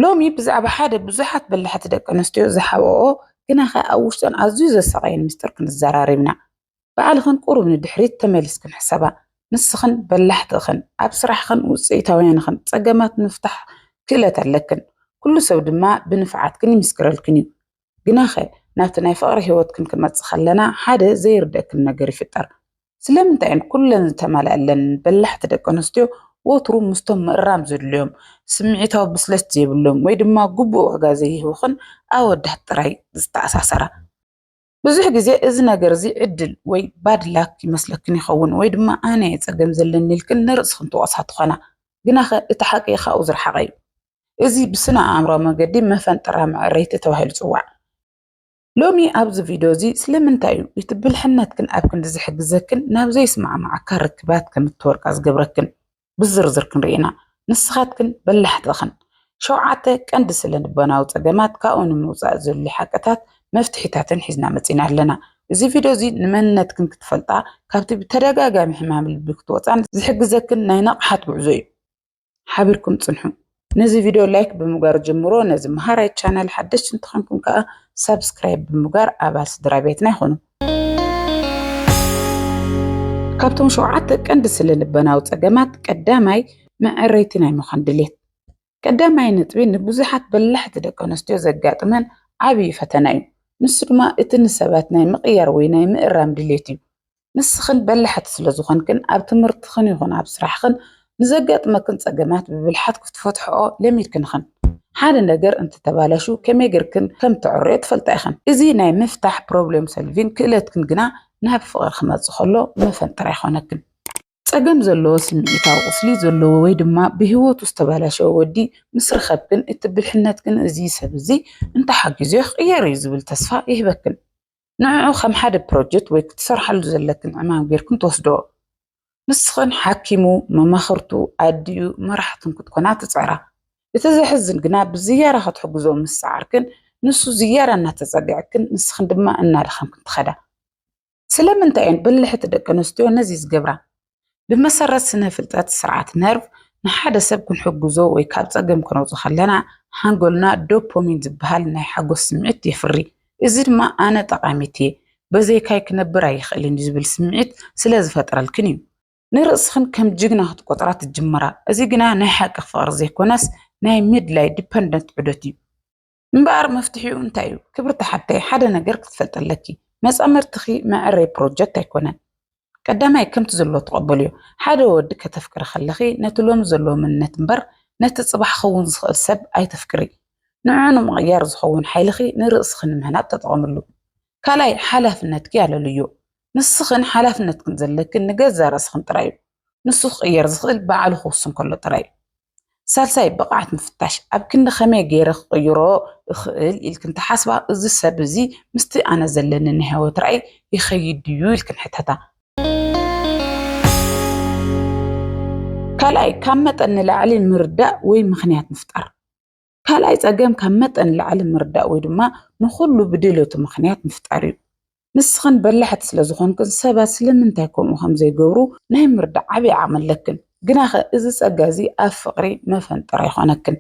ሎሚ ብዛዕባ ሓደ ብዙሓት በላሕቲ ደቂ ኣንስትዮ ዝሓብኦኦ ግናኸ ኣብ ውሽጠን ኣዝዩ ዘሳቐየን ሚስጥር ክንዘራረብ ኢና። ባዕልኽን ቁሩብ ንድሕሪት ተመሊስክን ሕሰባ። ንስኽን በላሕቲ እኽን፣ ኣብ ስራሕኽን ውጽኢታውያን እኽን፣ ጸገማት ንምፍታሕ ክእለት ኣለክን፣ ኩሉ ሰብ ድማ ብንፍዓትክን ይምስክረልክን እዩ። ግናኸ ናብቲ ናይ ፍቕሪ ህይወትክን ክንመጽእ ከለና ሓደ ዘይርደክን ነገር ይፍጠር። ስለምንታይ እየን ኩለን ዝተማልኣለን በላሕቲ ደቂ ኣንስትዮ ወትሩ ምስቶም ምእራም ዘድልዮም፣ ስምዒታዊ ብስለት ዘይብሎም ወይ ድማ ግቡእ ዋጋ ዘይህቡኽን ኣወዳት ጥራይ ዝተኣሳሰራ? ብዙሕ ግዜ እዚ ነገር እዚ ዕድል ወይ ባድ ላክ ይመስለክን ይኸውን ወይ ድማ ኣነ እየ ጸገም ዘለኒ ኢልክን ንርእስኽን ትወቕሳ ትዀና። ግናኸ እቲ ሓቂ ካብኡ ዝረሓቐ እዩ። እዚ ብስነ ኣእምሮ መገዲ መፈንጠራ መዕረይቲ ተባሂሉ ይጽዋዕ። ሎሚ ኣብዚ ቪድዮ እዚ ስለምንታይ እዩ እቲ ብልሕነትክን ኣብ ክንዲ ዝሕግዘክን ናብ ዘይስማዕማዓካ ርክባት ከም እትወድቃ ዝገብረክን ብዝርዝር ክንርኢ ኢና። ንስኻትክን በላሕቲ ኢኽን። ሸውዓተ ቀንዲ ስለ ልቦናዊ ጸገማት ካብኡ ንምውጻእ ዘድልዩ ሓቅታት መፍትሒታትን ሒዝና መጺና ኣለና። እዚ ቪድዮ እዚ ንመንነትክን ክትፈልጣ ካብቲ ብተደጋጋሚ ሕማም ልቢ ክትወጻን ዝሕግዘክን ናይ ንቕሓት ጉዕዞ እዩ። ሓቢርኩም ጽንሑ። ነዚ ቪድዮ ላይክ ብምግባር ጀምሮ ነዚ መሃራይ ቻናል ሓደሽቲ እንተኾንኩም ከዓ ሳብስክራይብ ብምግባር ኣባል ስድራ ቤትና ይኹኑ። ካብቶም ሸውዓተ ቀንዲ ስለ ልበናዊ ጸገማት ቀዳማይ መዐረይቲ ናይ ምዃን ድሌት ቀዳማይ ነጥቢ ንብዙሓት በላሕቲ ደቂ ኣንስትዮ ዘጋጥመን ዓብዪ ፈተና እዩ። ንሱ ድማ እቲ ንሰባት ናይ ምቕያር ወይ ናይ ምእራም ድሌት እዩ። ንስኽን በላሕቲ ስለ ዝኾንክን ኣብ ትምህርትኽን ይኹን ኣብ ስራሕኽን ንዘጋጥመክን ጸገማት ብብልሓት ክትፈትሕኦ ለሚድክን ኢኽን። ሓደ ነገር እንተተባላሹ ከመይ ጌርክን ከም እተዕርዮ ትፈልጣ ኢኽን። እዚ ናይ ምፍታሕ፣ ፕሮብሌም ሶልቪን፣ ክእለትክን ግና ናብ ፍቕሪ ክመጽእ ከሎ መፈንጠር ኣይኾነክን። ጸገም ዘለዎ ስምዒታዊ ቁስሊ ዘለዎ ወይ ድማ ብህይወቱ ዝተባላሸወ ወዲ ምስ ረኸብክን እቲ ብልሕነትክን እዚ ሰብ እዚ እንተሓጊዙዮ ክቕየር እዩ ዝብል ተስፋ ይህበክን። ንዕዑ ከም ሓደ ፕሮጀክት ወይ ክትሰርሓሉ ዘለክን ዕማም ጌርክን ትወስድኦ። ንስኽን ሓኪሙ፣ መማኽርቱ፣ ኣዲኡ፣ መራሕቱን ክትኮና ትጽዕራ። እቲ ዘሕዝን ግና ብዝያዳ ክትሕግዝኦ ምስ ጸዓርክን ንሱ ዝያዳ እናተጸገዐክን ንስኽን ድማ እናደኸምክን ትኸዳ። ስለምንታይ እየን በላሕቲ ደቂ ኣንስትዮ ነዚ ዝገብራ? ብመሰረት ስነ ፍልጠት ስርዓት ነርቭ ንሓደ ሰብ ክንሕግዞ ወይ ካብ ፀገም ክነውፅ ከለና ሓንጎልና ዶፖሚን ዝበሃል ናይ ሓጎስ ስምዒት የፍሪ። እዚ ድማ ኣነ ጠቃሚት እየ በዘይካይ ክነብር ኣይኽእልን እዩ ዝብል ስምዒት ስለ ዝፈጥረልክን እዩ። ንርእስኽን ከም ጅግና ክትቆፅራ ትጅምራ። እዚ ግና ናይ ሓቂ ፍቕሪ ዘይኮነስ ናይ ምድላይ፣ Dependent፣ ዑደት እዩ። እምበኣር መፍትሒኡ እንታይ እዩ? ክብርቲ ሓብተይ ሓደ ነገር ክትፈልጢ ኣለኪ መጻምድትኺ መዐረይ ፕሮጀክት ኣይኮነን። ቀዳማይ ከምቲ ዘሎ ተቐበልዮ። ሓደ ወዲ ከተፍቅሪ ከለኺ ነቲ ሎሚ ዘለዎ መንነት እምበር ነቲ ጽባሕ ክኸውን ዝኽእል ሰብ ኣይተፍቅሪ። ንዕዑ ንምቕያር ዝኸውን ሓይልኺ ንርእስኺ ንምህናጽ ተጠቐምሉ። ካልኣይ ሓላፍነትኪ ኣለልዮ። ንስኽን ሓላፍነትክን ዘለክን ንገዛእ ርእስኽን ጥራይ እዩ። ንሱ ክቕየር ዝኽእል ባዕሉ ክውስን ከሎ ጥራይ እዩ። ሳልሳይ ብቕዓት ምፍታሽ፣ ኣብ ክንዲ ከመይ ገይረ ክቕይሮ እኽእል ኢልክን ትሓስባ፣ እዚ ሰብ እዚ ምስቲ ኣነ ዘለኒ ናይ ህይወት ራእይ ይኸይድ ድዩ ኢልክን ሕተታ። ካልኣይ ካብ መጠን ንላዕሊ ምርዳእ ወይ ምኽንያት ምፍጣር፣ ካልኣይ ፀገም ካብ መጠን ላዕሊ ምርዳእ ወይ ድማ ንኹሉ ብድልቱ ምክንያት ምፍጣር እዩ። ንስኽን በላሕቲ ስለ ዝኾንክን ሰባት ስለምንታይ ከምኡ ከም ዘይገብሩ ናይ ምርዳእ ዓብዪ ዓቕሚ ኣለክን። ግናኸ እዚ ፀጋ እዚ ኣብ ፍቕሪ መፈንጠራ ይኾነክን።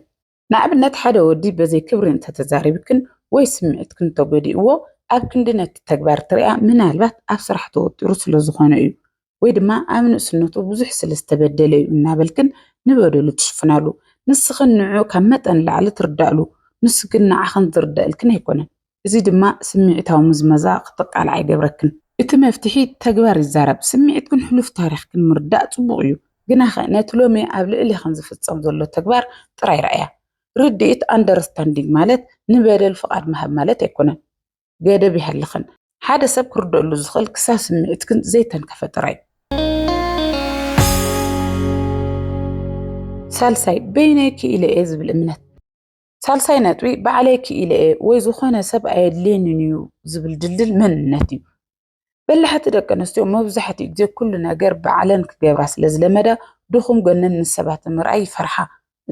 ንኣብነት ሓደ ወዲ በዘይ ክብሪ እንተተዛሪብክን ወይ ስምዒትክን እንተጎዲእዎ ኣብ ክንዲ ነቲ ተግባር ትሪኣ ምናልባት ኣብ ስራሕ ተወጢሩ ስለ ዝኾነ እዩ ወይ ድማ ኣብ ንእስነቱ ብዙሕ ስለ ዝተበደለ እዩ እናበልክን ንበደሉ ትሽፍናሉ። ንስኽን ንዕኡ ካብ መጠን ላዕሊ ትርዳእሉ፣ ንሱ ግን ንዓኽን ዝርደኣልክን ኣይኮነን። እዚ ድማ ስምዒታዊ ምዝመዛ ክትቃልዓ ይገብረክን። እቲ መፍትሒ ተግባር ይዛረብ። ስምዒትክን ሕሉፍ ታሪኽክን ምርዳእ ጽቡቕ እዩ፣ ግናኸ ነቲ ሎሚ ኣብ ልዕሌኽን ዝፍጸም ዘሎ ተግባር ጥራይ ረኣያ። ርድኢት፣ ኣንደርስታንዲንግ፣ ማለት ንበደል ፍቓድ ምሃብ ማለት ኣይኮነን። ገደብ ይሃልኽን። ሓደ ሰብ ክርደኣሉ ዝኽእል ክሳብ ስምዒትክን ዘይተንከፈ ጥራይ። ሳልሳይ፣ በይነይ ክኢለ እየ ዝብል እምነት። ሳልሳይ ነጥቢ ባዕለይ ክኢለ እየ ወይ ዝኾነ ሰብ ኣየድልየንን እዩ ዝብል ድልድል መንነት እዩ። በላሕቲ ደቂ ኣንስትዮ መብዛሕትኡ ግዜ ኩሉ ነገር ባዕለን ክገብራ ስለ ዝለመዳ ድኹም ጎነን ምስ ሰባት ንምርኣይ ይፈርሓ።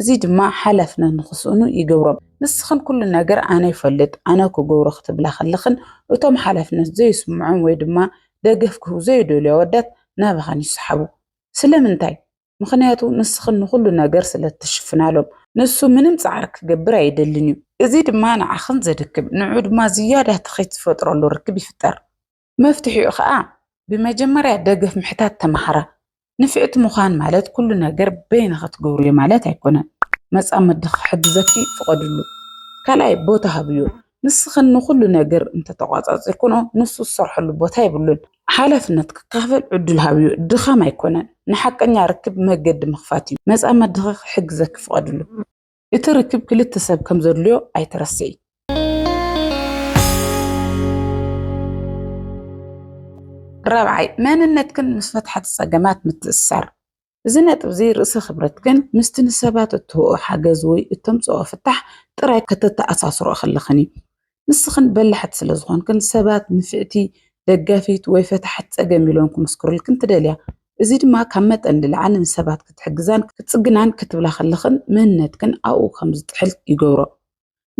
እዚ ድማ ሓላፍነት ንኽስእኑ ይገብሮም። ንስኽን ኩሉ ነገር ኣነ ይፈልጥ ኣነ ክገብሮ ክትብላ ከለኽን እቶም ሓላፍነት ዘይስምዖም ወይ ድማ ደገፍ ክህቡ ዘይደልዩ ኣወዳት ናባኸን ይሰሓቡ። ስለምንታይ? ምኽንያቱ ንስኽን ንኹሉ ነገር ስለ እትሽፍናሎም። ንሱ ምንም ጻዕሪ ክገብር ኣይደልን እዩ። እዚ ድማ ንዓኽን ዘድክም፣ ንዕኡ ድማ ዝያዳ ትኺት ዝፈጥረሉ ርክብ ይፍጠር። መፍትሒኡ ኸኣ ብመጀመርያ ደገፍ ምሕታት ተማሃራ። ንፍዕቲ ምዃን ማለት ኩሉ ነገር በይንኺ ትገብርዮ ማለት ኣይኮነን። መጻምድኺ ክሕግዘኪ ፍቐድሉ። ካልኣይ ቦታ ሃብዮ። ንስኽን ንኹሉ ነገር እንተተቋፃፂርክንኦ ንሱ ዝሰርሐሉ ቦታ የብሉን። ሓላፍነት ክካፈል ዕዱል ሃብዮ ድኻም ኣይኮነን ንሓቀኛ ርክብ መገዲ ምኽፋት እዩ። መፃመድኺ ክሕግዘኪ ፍቐድሉ። እቲ ርክብ ክልተ ሰብ ከም ዘድልዮ ኣይትረስዒ። ራብዓይ፣ መንነትክን ምስ ፈታሕቲ ፀገማት ምትእስሳር። እዚ ነጥብ እዚ ርእሰ ክብረት ግን ምስቲ ንሰባት እትህቦኦ ሓገዝ ወይ እተምጽኦ ፍታሕ ጥራይ ከተተኣሳስርኦ ከለኽን እዩ። ንስኽን በላሕቲ ስለ ዝኾንክን ሰባት ንፍዕቲ፣ ደጋፊት ወይ ፈታሒት ጸገም ኢሎም ክምስክሩልክን ትደልያ። እዚ ድማ ካብ መጠን ንላዕሊ ንሰባት ክትሕግዛን ክትጽግናን ክትብላ ከለኽን መንነትክን ኣብኡ ከም ዝጥሕል ይገብሮ።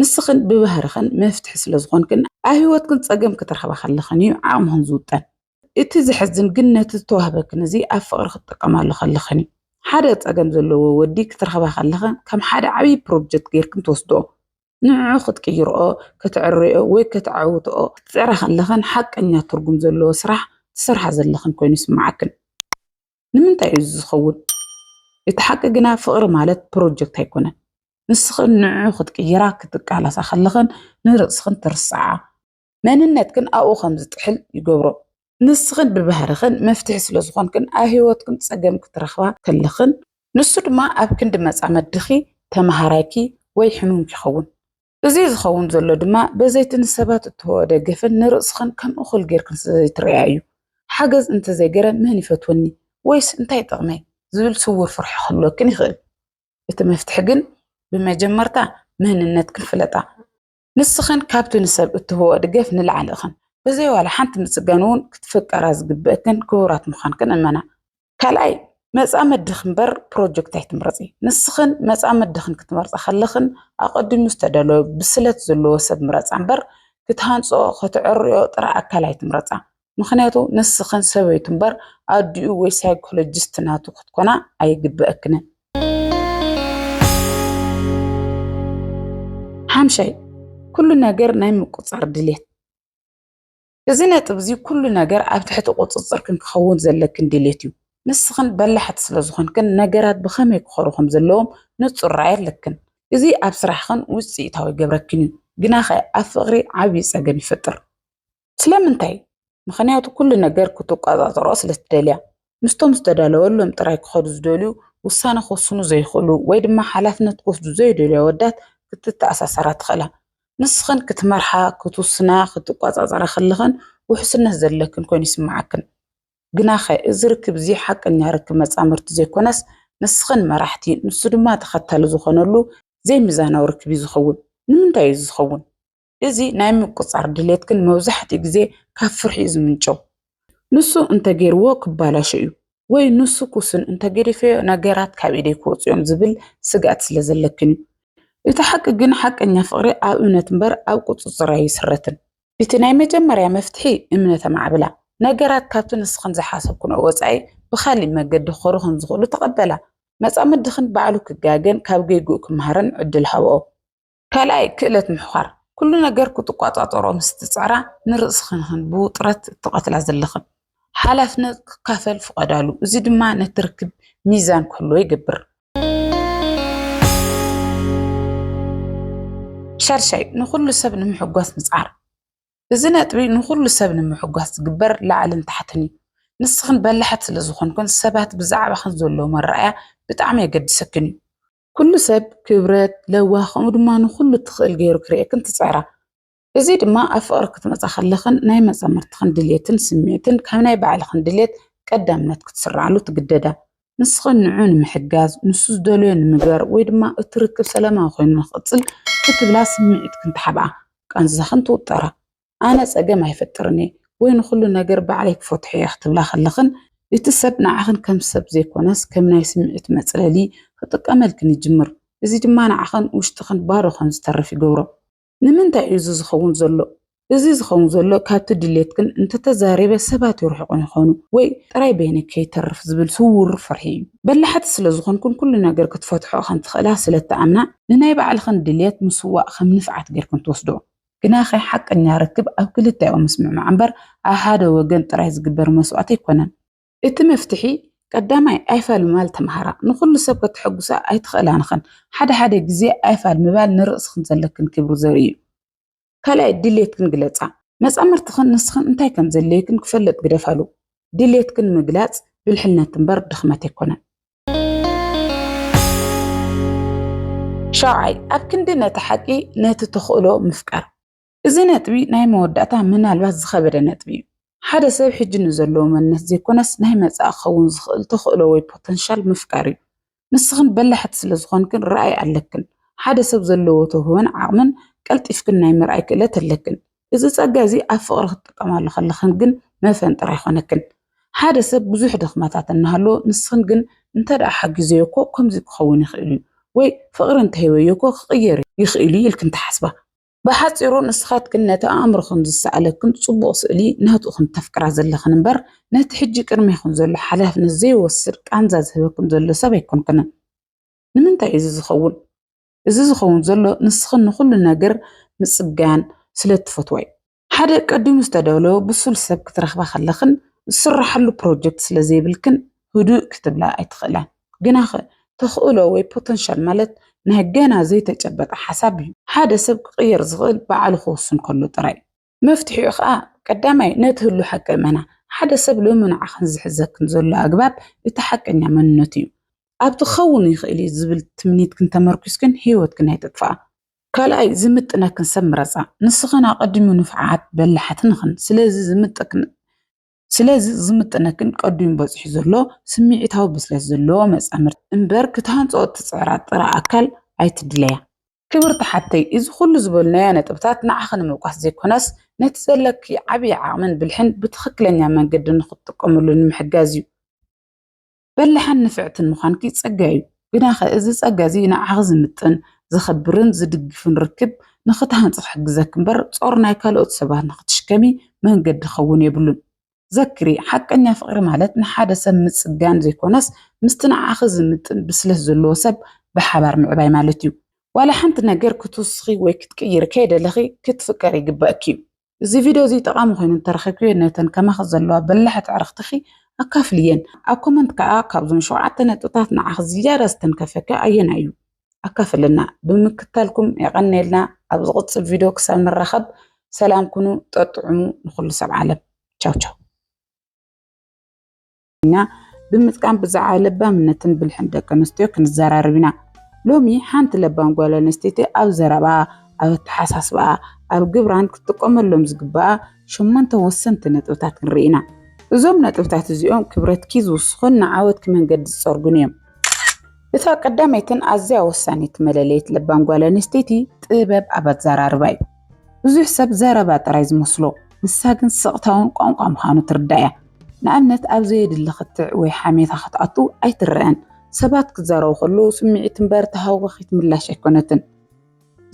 ንስኽን ብባህርኽን መፍትሒ ስለ ዝኾንክን ኣብ ህይወትክን ጸገም ክትረኽባ ከለኽን እዩ ዓቕምኽን ዝውጠን። እቲ ዘሕዝን ግን ነቲ ዝተዋህበክን እዚ ኣብ ፍቕሪ ክትጥቀማሉ ከለኽን እዩ። ሓደ ጸገም ዘለዎ ወዲ ክትረኽባ ከለኽን ከም ሓደ ዓብዪ ፕሮጀክት ጌርክን ትወስድኦ። ንዕዑ ክትቅይርኦ፣ ከተዐርይኦ ወይ ከተዐውትኦ ክትጽዕራ ከለኽን ሓቀኛ ትርጉም ዘለዎ ስራሕ ትሰርሓ ዘለኽን ኮይኑ ይስምዓክን። ንምንታይ እዩ እዚ ዝኸውን? እቲ ሓቂ ግና ፍቕሪ ማለት ፕሮጀክት ኣይኮነን። ንስኽን ንዕዑ ክትቅይራ ክትቃለሳ ከለኽን ንርእስኽን ትርስዓ። መንነትክን ኣብኡ ከም ዝጥሕል ይገብሮ። ንስኽን ብባህርኽን መፍትሒ ስለ ዝኾንክን ኣብ ህይወትክን ጸገም ክትረኽባ ከለኽን፣ ንሱ ድማ ኣብ ክንዲ መጻመድኺ፣ ተመሃራይኪ ወይ ሕሙምኪ ይኸውን። እዚ ዝኸውን ዘሎ ድማ በዘይ'ቲ ንሰባት እትህብኦ ደገፍን ንርእስኽን ከም እኹል ጌርክን ስለ ዘይትርእያ እዩ። ሓገዝ እንተ ዘይገረ መን ይፈትወኒ ወይስ እንታይ ይጠቕመይ ዝብል ስዉር ፍርሒ ክህልወክን ይኽእል። እቲ መፍትሒ ግን ብመጀመርታ መንነትክን ፍለጣ። ንስኽን ካብቲ ንሰብ እትህቦኦ ደገፍ ንላዕሊ ኢኽን። ብዘይ ዋላ ሓንቲ ምጽጋን እውን ክትፍቀራ ዝግበእክን ክቡራት ምዃንክን እመና። ካልኣይ፣ መጻምድኺ እምበር ፕሮጀክት ኣይትምረጺ። ንስኽን መጻምድኽን ክትመርጻ ከለኽን ኣቐዲሙ ዝተደለወ ብስለት ዘለዎ ሰብ ምረጻ እምበር ክትሃንጽኦ፣ ከተዕርዮ ጥራይ ኣካል ኣይትምረጻ። ምኽንያቱ ንስኽን ሰበይቱ እምበር ኣዲኡ ወይ ሳይኮሎጂስት ናቱ ክትኮና ኣይግበኣክንን። ሓምሻይ ኩሉ ነገር ናይ ምቁፅፃር ድሌት እዚ ነጥብ እዚ ኩሉ ነገር ኣብ ትሕቲ ቁፅፅርክን ክኸውን ዘለክን ድሌት እዩ። ንስኽን በላሕቲ ስለ ዝኾንክን ነገራት ብኸመይ ክኸሩ ከም ዘለዎም ንፁር ራእይ ኣለክን። እዚ ኣብ ስራሕኽን ውፅኢታዊ ይገብረክን እዩ። ግናኸ ኣብ ፍቕሪ ዓብዪ ፀገም ይፈጥር። ስለምንታይ? ምኽንያቱ ኩሉ ነገር ክትቆጻጸሮ ስለትደልያ። ምስቶም ዝተዳለወሎም ጥራይ ክኸዱ ዝደልዩ፣ ውሳነ ክውስኑ ዘይክእሉ ወይ ድማ ሓላፍነት ክወስዱ ዘይደልዩ ኣወዳት ክትተኣሳሰራ ትኽእላ። ንስኽን ክትመርሓ፣ ክትውስና፣ ክትቆጻጸራ ከለኽን ውሕስነት ዘለክን ኮይኑ ይስምዓክን። ግናኸ እዚ ርክብ እዚ ሓቀኛ ርክብ መጻምድቲ ዘይኮነስ ንስኽን መራሕቲ ንሱ ድማ ተኸታሊ ዝኾነሉ ዘይሚዛናዊ ርክብ እዩ ዝኸውን። ንምንታይ እዩ እዚ ዝኸውን? እዚ ናይ ምቁጽጻር ድሌት ግን መብዛሕትኡ ግዜ ካብ ፍርሒ'ዩ ዝምንጨው። ንሱ እንተ ገይርዎ ክበላሾ'ዩ ወይ ንሱ ክውስን እንተ ገዲፈዮ ነገራት ካብ ኢደይ ክወጽኡ'ዮም ዝብል ስግኣት ስለ ዘለክን'ዩ። እቲ ሓቂ ግን ሓቀኛ ፍቕሪ ኣብ እምነት እምበር ኣብ ቁጽጽር ኣይስረትን። እቲ ናይ መጀመርያ መፍትሒ እምነት ኣማዕብላ። ነገራት ካብቲ ንስኽን ዝሓሰብክንኦ ወጻኢ ብኻልእ መገዲ ክኸዱ ከም ዝኽእሉ ተቐበላ። መጻምድኽን ባዕሉ ክጋገን ካብ ጌግኡ ክመሃርን ዕድል ሃብኦ። ካልኣይ፣ ክእለት ምሕዃር፣ ኩሉ ነገር ክትቆጻጸሮ ምስ እትጽዕራ፣ ንርእስኽንክን ብውጥረት እትቐትላ ዘለኽን ሓላፍነት ክካፈል ፍቐዳሉ፣ እዚ ድማ ነቲ ርክብ ሚዛን ክህልዎ ይገብር። ሻድሻይ፣ ንኹሉ ሰብ ንምሕጓስ ምጽዓር፣ እዚ ነጥቢ ንኹሉ ሰብ ንምሕጓስ ዝግበር ላዕልን ታሕትን እዩ። ንስኽን በላሕት ስለ ዝኾንክን፣ ሰባት ብዛዕባኽን ዘለዎም ኣረኣእያ ብጣዕሚ የገድሰክን እዩ። ኩሉ ሰብ ክብረት፣ ለዋህ ከምኡ ድማ ንኹሉ እትኽእል ገይሩ ክርእየክን ትጽዕራ። እዚ ድማ ኣብ ፍቕሪ ክትመጻ ከለኽን ናይ መጻምድትኽን ድሌትን ስምዒትን ካብ ናይ ባዕልኽን ድሌት ቀዳምነት ክትስርዓሉ ትግደዳ። ንስኽን ንዑ ንምሕጋዝ፣ ንሱ ዝደልዮ ንምግባር ወይ ድማ እቲ ርክብ ሰላማዊ ኮይኑ ንኽቕጽል ክትብላ ስምዒትክን ትሓብኣ፣ ቃንዛኽን ትውጠራ። ኣነ ጸገም ኣይፈጥርን እየ ወይ ንኹሉ ነገር ባዕለይ ክፈትሖ እየ ክትብላ ከለኽን እቲ ሰብ ንዓኽን ከም ሰብ ዘይኮነስ ከም ናይ ስምዒት መጽለሊ ክጥቀመልክን ይጅምር። እዚ ድማ ንዓኽን ውሽጥኽን ባዶ ከም ዝተርፍ ይገብሮ። ንምንታይ እዩ እዚ ዝኸውን ዘሎ? እዚ ዝኸውን ዘሎ ካብቲ ድሌትክን እንተተዛሪበ ሰባት ይርሕቑኒ ይኾኑ ወይ ጥራይ በይነይ ከይተርፍ ዝብል ስዉር ፍርሒ እዩ። በላሕቲ ስለ ዝኾንክን ኩሉ ነገር ክትፈትሕኦ ከም ትኽእላ ስለ እትኣምና ንናይ ባዕልኽን ድሌት ምስዋእ ከም ንፍዓት ጌርክን ትወስድኦ። ግናኸ ሓቀኛ ርክብ ኣብ ክልቲኣዊ ምስምዕማዕ እምበር ኣብ ሓደ ወገን ጥራይ ዝግበር መስዋእቲ ኣይኮነን። እቲ መፍትሒ ቀዳማይ ኣይፋል ምባል ተማሃራ። ንኹሉ ሰብ ከተሐጉሳ ኣይትኽእላን ኢኽን። ሓደ ሓደ ግዜ ኣይፋል ምባል ንርእስኽን ዘለክን ክብሪ ዘርኢ እዩ። ካልኣይ ድሌትክን ግለጻ። መጻምርትኽን ንስኽን እንታይ ከም ዘድልየክን ክፈልጥ ግደፋሉ። ድሌትክን ምግላጽ ብልሕነት እምበር ድኽመት ኣይኮነን። ሻውዓይ፣ ኣብ ክንዲ ነቲ ሓቂ ነቲ ተኽእሎ ምፍቃር። እዚ ነጥቢ ናይ መወዳእታ ምናልባት ዝኸበደ ነጥቢ እዩ። ሓደ ሰብ ሕጂ ንዘለዎ መንነት ዘይኮነስ ናይ መጻኢ ክኸውን ዝኽእል ተኽእሎ ወይ ፖተንሻል ምፍቃር እዩ። ንስኽን በላሕቲ ስለ ዝኾንክን ራእይ ኣለክን። ሓደ ሰብ ዘለዎ ተውህቦን ዓቕምን ቀልጢፍክን ናይ ምርኣይ ክእለት ኣለክን። እዚ ጸጋ እዚ ኣብ ፍቕሪ ክትጥቀማሉ ከለኽን ግን መፈን ጥራይ ኮነክን። ሓደ ሰብ ብዙሕ ድኽመታት እናሃለዎ ንስኽን ግን እንተ ደኣ ሓጊዘዮ እኮ ከምዚ ክኸውን ይኽእል እዩ ወይ ፍቕሪ እንተ ሂበዮ እኮ ክቕየር ይኽእል እዩ ኢልክን ትሓስባ። ብሓጺሩ ንስኻትክን ነቲ ኣእምሮኽን ዝሰኣለክን ጽቡቕ ስእሊ ናቱ ኢኽን እተፍቅራ ዘለኽን እምበር ነቲ ሕጂ ቅድሜኽን ዘሎ ሓላፍነት ዘይወስድ ቃንዛ ዝህበክን ዘሎ ሰብ ኣይኮንክንን። ንምንታይ እዩ እዚ ዝኸውን? እዚ ዝኸውን ዘሎ ንስኺ ንኹሉ ነገር ምጽጋን ስለ እትፈትዋ እዩ። ሓደ ቀዲሙ ዝተዳለወ ብሱል ሰብ ክትረኽባ ከለኽን ዝስራሓሉ ፕሮጀክት ስለ ዘይብልክን ህዱእ ክትብላ ኣይትኽእላን። ግናኸ ተኽእሎ ወይ ፖተንሻል ማለት ናይ ገና ዘይተጨበጠ ሓሳብ እዩ። ሓደ ሰብ ክቕየር ዝኽእል ባዕሉ ክውስን ከሎ ጥራይ እዩ። መፍትሒኡ ከኣ ቀዳማይ ነቲ ህሉ ሓቂ እመና። ሓደ ሰብ ሎሚ ንዓኽን ዝሕዘክን ዘሎ ኣግባብ እቲ ሓቀኛ መንነቱ እዩ። ኣብቲ ክኸውን ይኽእል እዩ ዝብል ትምኒትክን ተመርኲስክን ህይወትክን ኣይተጥፍኣ። ካልኣይ ዝምጥነክን ሰብ ምረጻ። ንስኽን ኣቐዲሙ ንፉዓት በላሓትን ኢኽን ስለዚ ዝምጥክን ስለዚ ዝምጥነክን ቀዲሙ በጺሑ ዘሎ ስምዒታዊ ብስለት ዘለዎ መጻምድቲ እምበር ክትሃንጽኦ እትጽዕራ ጥረ ኣካል ኣይትድለያ። ክብርቲ ሓብተይ እዚ ኩሉ ዝበልናዮ ነጥብታት ንዓኺ ንምውቃስ ዘይኮነስ ነቲ ዘለኪ ዓብይ ዓቕምን ብልሕን ብትኽክለኛ መንገዲ ንኽትጥቀምሉ ንምሕጋዝ እዩ። በላሕን ንፍዕትን ምዃንኪ ጸጋ እዩ። ግናኸ እዚ ጸጋ እዚ ንዓኺ ዝምጥን፣ ዘኽብርን ዝድግፍን ርክብ ንኽትሃንጺ ክሕግዘኪ እምበር ጾር ናይ ካልኦት ሰባት ንኽትሽከሚ መንገዲ ክኸውን የብሉን። ዘክሪ፣ ሓቀኛ ፍቕሪ ማለት ንሓደ ሰብ ምጽጋን ዘይኮነስ ምስቲ ንዓኺ ዝምጥን ብስለት ዘለዎ ሰብ ብሓባር ምዕባይ ማለት እዩ። ዋላ ሓንቲ ነገር ክትውስኺ ወይ ክትቅይሪ ከይደለኺ ክትፍቀሪ ይግበኣኪ እዩ። እዚ ቪድዮ እዚ ጠቓሚ ኮይኑ እንተረኺብክዮ ነተን ከማኺ ዘለዋ በላሕቲ ኣዕርኽትኺ ኣካፍልየን። ኣብ ኮመንት ከኣ ካብዞም ሸውዓተ ነጥብታት ንዓኺ ዝያዳ ዝተንከፈኪ ኣየናይ እዩ? ኣካፍለና። ብምክታልኩም የቐንየልና። ኣብ ዝቕጽል ቪድዮ ክሳብ ንራኸብ ሰላም ኩኑ፣ ጠጥዑሙ ንኹሉ ሰብ ዓለም። ቻው ቻው። ትግርኛ ብምጥቃም ብዛዕባ ለባምነትን ብልሕን ደቂ ኣንስትዮ ክንዘራረብ ኢና። ሎሚ ሓንቲ ለባም ጓል ኣንስተይቲ ኣብ ዘረባኣ፣ ኣብ ኣተሓሳስባኣ፣ ኣብ ግብራን ክትጥቀመሎም ዝግባኣ ሸሞንተ ወሰንቲ ነጥብታት ክንርኢ ኢና። እዞም ነጥብታት እዚኦም ክብረትኪ ዝውስኹን ንዓወትኪ መንገዲ ዝጸርጉን እዮም። እታ ቀዳመይትን ኣዝያ ወሳኒት መለለይት ለባም ጓል ኣንስተይቲ ጥበብ ኣብ ኣዘራርባ እዩ። ብዙሕ ሰብ ዘረባ ጥራይ ዝመስሎ፣ ንሳ ግን ስቕታውን ቋንቋ ምዃኑ ትርዳእ እያ። ንኣብነት ኣብ ዘየድሊ ክትዕ ወይ ሓሜታ ክትኣቱ ኣይትረኣን። ሰባት ክዛረቡ ከለዉ ስምዒት እምበር ተሃዋኺት ምላሽ ኣይኮነትን።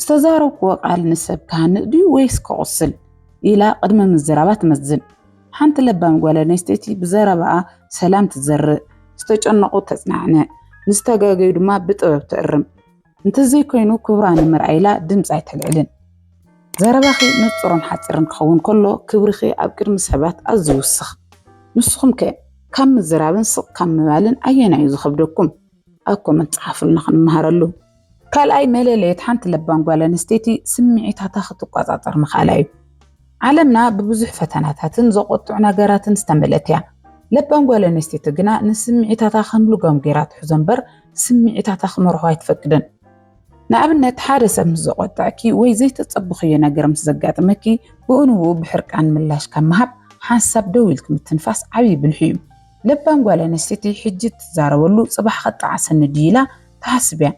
ዝተዛረብክዎ ቃል ንሰብ ክሃንጽ ድዩ ወይስ ከቑስል? ኢላ ቅድሚ ምዝራባ ትመዝን። ሓንቲ ለባም ጓል ኣንስተይቲ ብዘረባኣ ሰላም ትዘርእ፣ ዝተጨነቑ ተጽናዕንዕ፣ ንዝተጋገዩ ድማ ብጥበብ ትእርም። እንተዘይኮይኑ ክብራ ንምርኣይ ኢላ ድምፂ ኣይተልዕልን። ዘረባኺ ንፁርን ሓፂርን ክኸውን ከሎ ክብርኺ ኣብ ቅድሚ ሰባት ኣዝዩ ይውስኽ። ንስኹም ከ ካብ ምዝራብን ስቕ ካብ ምባልን ኣየናይ እዩ ዝኸብደኩም? ኣብ ኮመንት ፀሓፉልና ክንመሃረሉ። ካልኣይ መለለየት ሓንቲ ለባም ጓል ኣንስተይቲ ስምዒታታ ክትቆፃፀር ምኽኣላ እዩ። ዓለምና ብብዙሕ ፈተናታትን ዘቖጥዑ ነገራትን ዝተመልእት እያ። ለባም ጓል ኣንስተይቲ ግና ንስምዒታታ ከም ልጓም ገይራ ትሕዞ እምበር ስምዒታታ ክመርሖ ኣይትፈቅድን። ንኣብነት ሓደ ሰብ ምስ ዘቖጥዐኪ ወይ ዘይተጸበኽዮ ነገር ምስ ዘጋጥመኪ ብኡንብኡ ብሕርቃን ምላሽ ካብ ምሃብ ሓንሳብ ደው ኢልኪ ምትንፋስ ዓብዪ ብልሒ እዩ። ለባም ጓል ኣንስተይቲ ሕጂ እትዛረበሉ ጽባሕ ከጣዕሰኒ ድዩ ኢላ ትሓስብ እያ።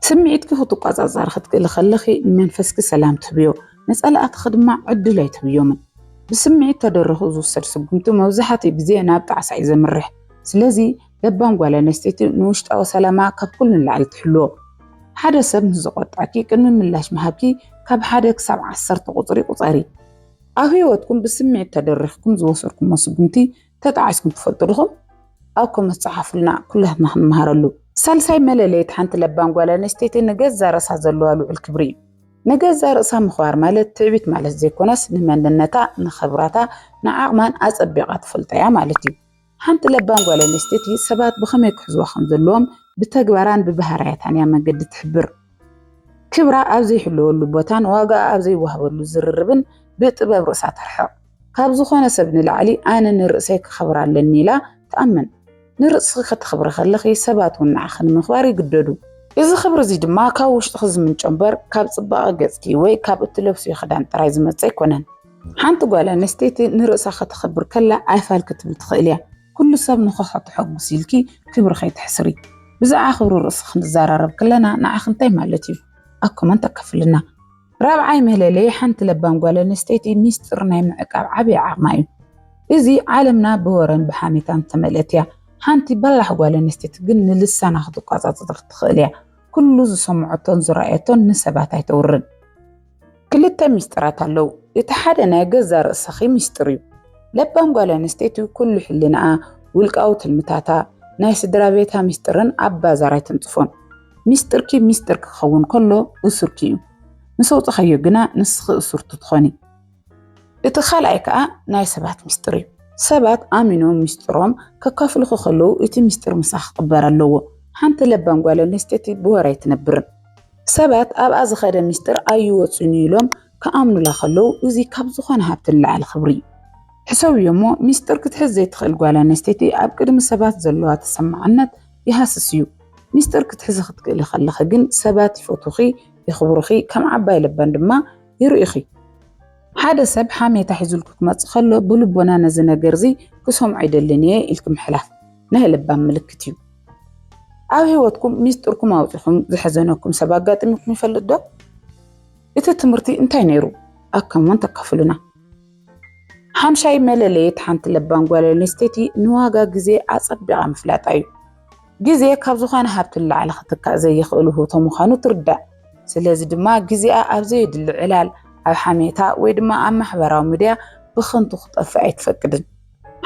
ስምዒትኪ ክትቆጻጸሪ ክትክእሊ ከለኺ ንመንፈስኪ ሰላም ትህብዮ፣ ንጸላእትኺ ድማ ዕድል ኣይትህብዮምን። ብስምዒት ተደሪኹ ዝውሰድ ስጉምቲ መብዛሕትኡ ግዜ ናብ ጣዕሳ እዩ ዘምርሕ። ስለዚ ለባም ጓል ኣንስተይቲ ንውሽጣዊ ሰላማ ካብ ኩሉ ንላዕሊ ትሕልዎ። ሓደ ሰብ ምስ ዘቖጥዐኪ ቅድሚ ምላሽ ምሃብኪ ካብ ሓደ ክሳብ ዓሰርተ ቁጽሪ ቁጸሪ። ኣብ ህይወትኩም ብስምዒት ተደሪኽኩም ዝወሰድኩሞ ስጉምቲ ተጣዒስኩም ትፈልጡ ድኹም? ኣብ ኮመንት ጸሓፉልና ኩላትና ክንመሃረሉ። ሳልሳይ መለለይት ሓንቲ ለባም ጓል ኣንስተይቲ ንገዛ ርእሳ ዘለዋ ልዑል ክብሪ እዩ። ንገዛ ርእሳ ምኽባር ማለት ትዕቢት ማለት ዘይኮነስ ንመንነታ፣ ንኽብራታ፣ ንዓቕማን ኣጸቢቓ ትፈልጦ እያ ማለት እዩ። ሓንቲ ለባም ጓል ኣንስተይቲ ሰባት ብኸመይ ክሕዝዋ ከም ዘለዎም ብተግባራን ብባህርያታን እያ መንገዲ ትሕብር። ክብራ ኣብ ዘይሕለወሉ ቦታን ዋጋኣ ኣብ ዘይወሃበሉ ዝርርብን ብጥበብ ርእሳ ተርሕቕ። ካብ ዝኾነ ሰብ ንላዕሊ ኣነ ንርእሰይ ከኸብር ኣለኒ ኢላ ትኣምን። ንርእስኺ ከተኽብሪ ከለኺ ሰባት እውን ንዓኺ ንምኽባር ይግደዱ። እዚ ክብሪ እዚ ድማ ካብ ውሽጥኺ ዝምንጮ እምበር ካብ ጽባቐ ገጽኪ ወይ ካብ እትለብስዮ ክዳን ጥራይ ዝመጽእ ኣይኮነን። ሓንቲ ጓል ኣንስተይቲ ንርእሳ ከተኽብር ከላ ኣይፋል ክትብል ትኽእል እያ። ኩሉ ሰብ ንኸኾ ተሐጉስ ኢልኪ ክብሪ ከይተሕስሪ። ብዛዕባ ክብሪ ርእሲ ክንዛራረብ ከለና ንዓኺ እንታይ ማለት እዩ? ኣብ ኮመንት ኣካፍልልና። ራብዓይ መለለዪ ሓንቲ ለባም ጓል ኣንስተይቲ ሚስጥር ናይ ምዕቃብ ዓብዪ ዓቕማ እዩ። እዚ ዓለምና ብወረን ብሓሜታን ዝተመልአት እያ። ሓንቲ በላሕ ጓል ኣንስተይቲ ግን ንልሳና ክትቋጻጸር ትኽእል እያ። ኩሉ ዝሰምዖቶን ዝረኣየቶን ንሰባት ኣይተውርን። ክልተ ሚስጥራት ኣለዉ። እቲ ሓደ ናይ ገዛ ርእሰኺ ሚስጥር እዩ። ለባም ጓል ኣንስተይቲ ኩሉ ሕልናኣ፣ ውልቃዊ ትልምታታ፣ ናይ ስድራቤታ ሚስጥርን ኣብ ባዛር ኣይትንጽፎን። ሚስጥርኪ ሚስጥር ክኸውን ከሎ እሱርኪ እዩ። ምስ ኣውጻኻዮ ግና ንስኺ እሱርቲ ትኾኒ። እቲ ካልኣይ ከኣ ናይ ሰባት ሚስጥር እዩ። ሰባት ኣሚኖም ሚስጥሮም ከካፍሉኺ ከለዉ እቲ ሚስጥር ምሳኺ ክቕበር ኣለዎ። ሓንቲ ለባም ጓል ኣንስተይቲ ብወረ ኣይትነብርን። ሰባት ኣብኣ ዝኸደ ሚስጥር ኣይወጽን እዩ ኢሎም ክኣምኑላ ከለዉ እዚ ካብ ዝኾነ ሃብቲ ንላዕሊ ክብሪ እዩ። ሕሰብዮ እሞ ሚስጥር ክትሕዝ ዘይትኽእል ጓል ኣንስተይቲ ኣብ ቅድሚ ሰባት ዘለዋ ተሰማዕነት ይሃስስ እዩ ሚስጥር ክትሕዚ ክትክእሊ ከለኺ ግን ሰባት ይፈትዉኺ የኽብሩኺ ከም ዓባይ ለባም ድማ ይርእዩኺ። ሓደ ሰብ ሓሜታ ሒዙልኪ ክመጽእ ከሎ ብልቦና ነዚ ነገርዚ ክሰምዖ ኣይደልን እየ ኢልኪ ምሕላፍ ናይ ለባም ምልክት እዩ። ኣብ ህይወትኩም ሚስጥርኩም ኣውጺኹም ዘሕዘነኩም ሰብ ኣጋጢሙኩም ይፈልጥ ዶ? እቲ ትምህርቲ እንታይ ነይሩ? ኣብ ኮመንት ኣካፍሉና። ሓምሻይ መለለየት ሓንቲ ለባም ጓል ኣንስተይቲ ንዋጋ ግዜ ኣጸቢቓ ምፍላጣ እዩ። ግዜ ካብ ዝኾነ ሃብቲ ንላዕሊ ክትካእ ዘይኽእል ውህብቶ ምዃኑ ትርዳእ። ስለዚ ድማ ግዜኣ ኣብ ዘየድሊ ዕላል፣ ኣብ ሓሜታ ወይ ድማ ኣብ ማሕበራዊ ምድያ ብኽንቱ ክጠፍእ ኣይትፈቅድን።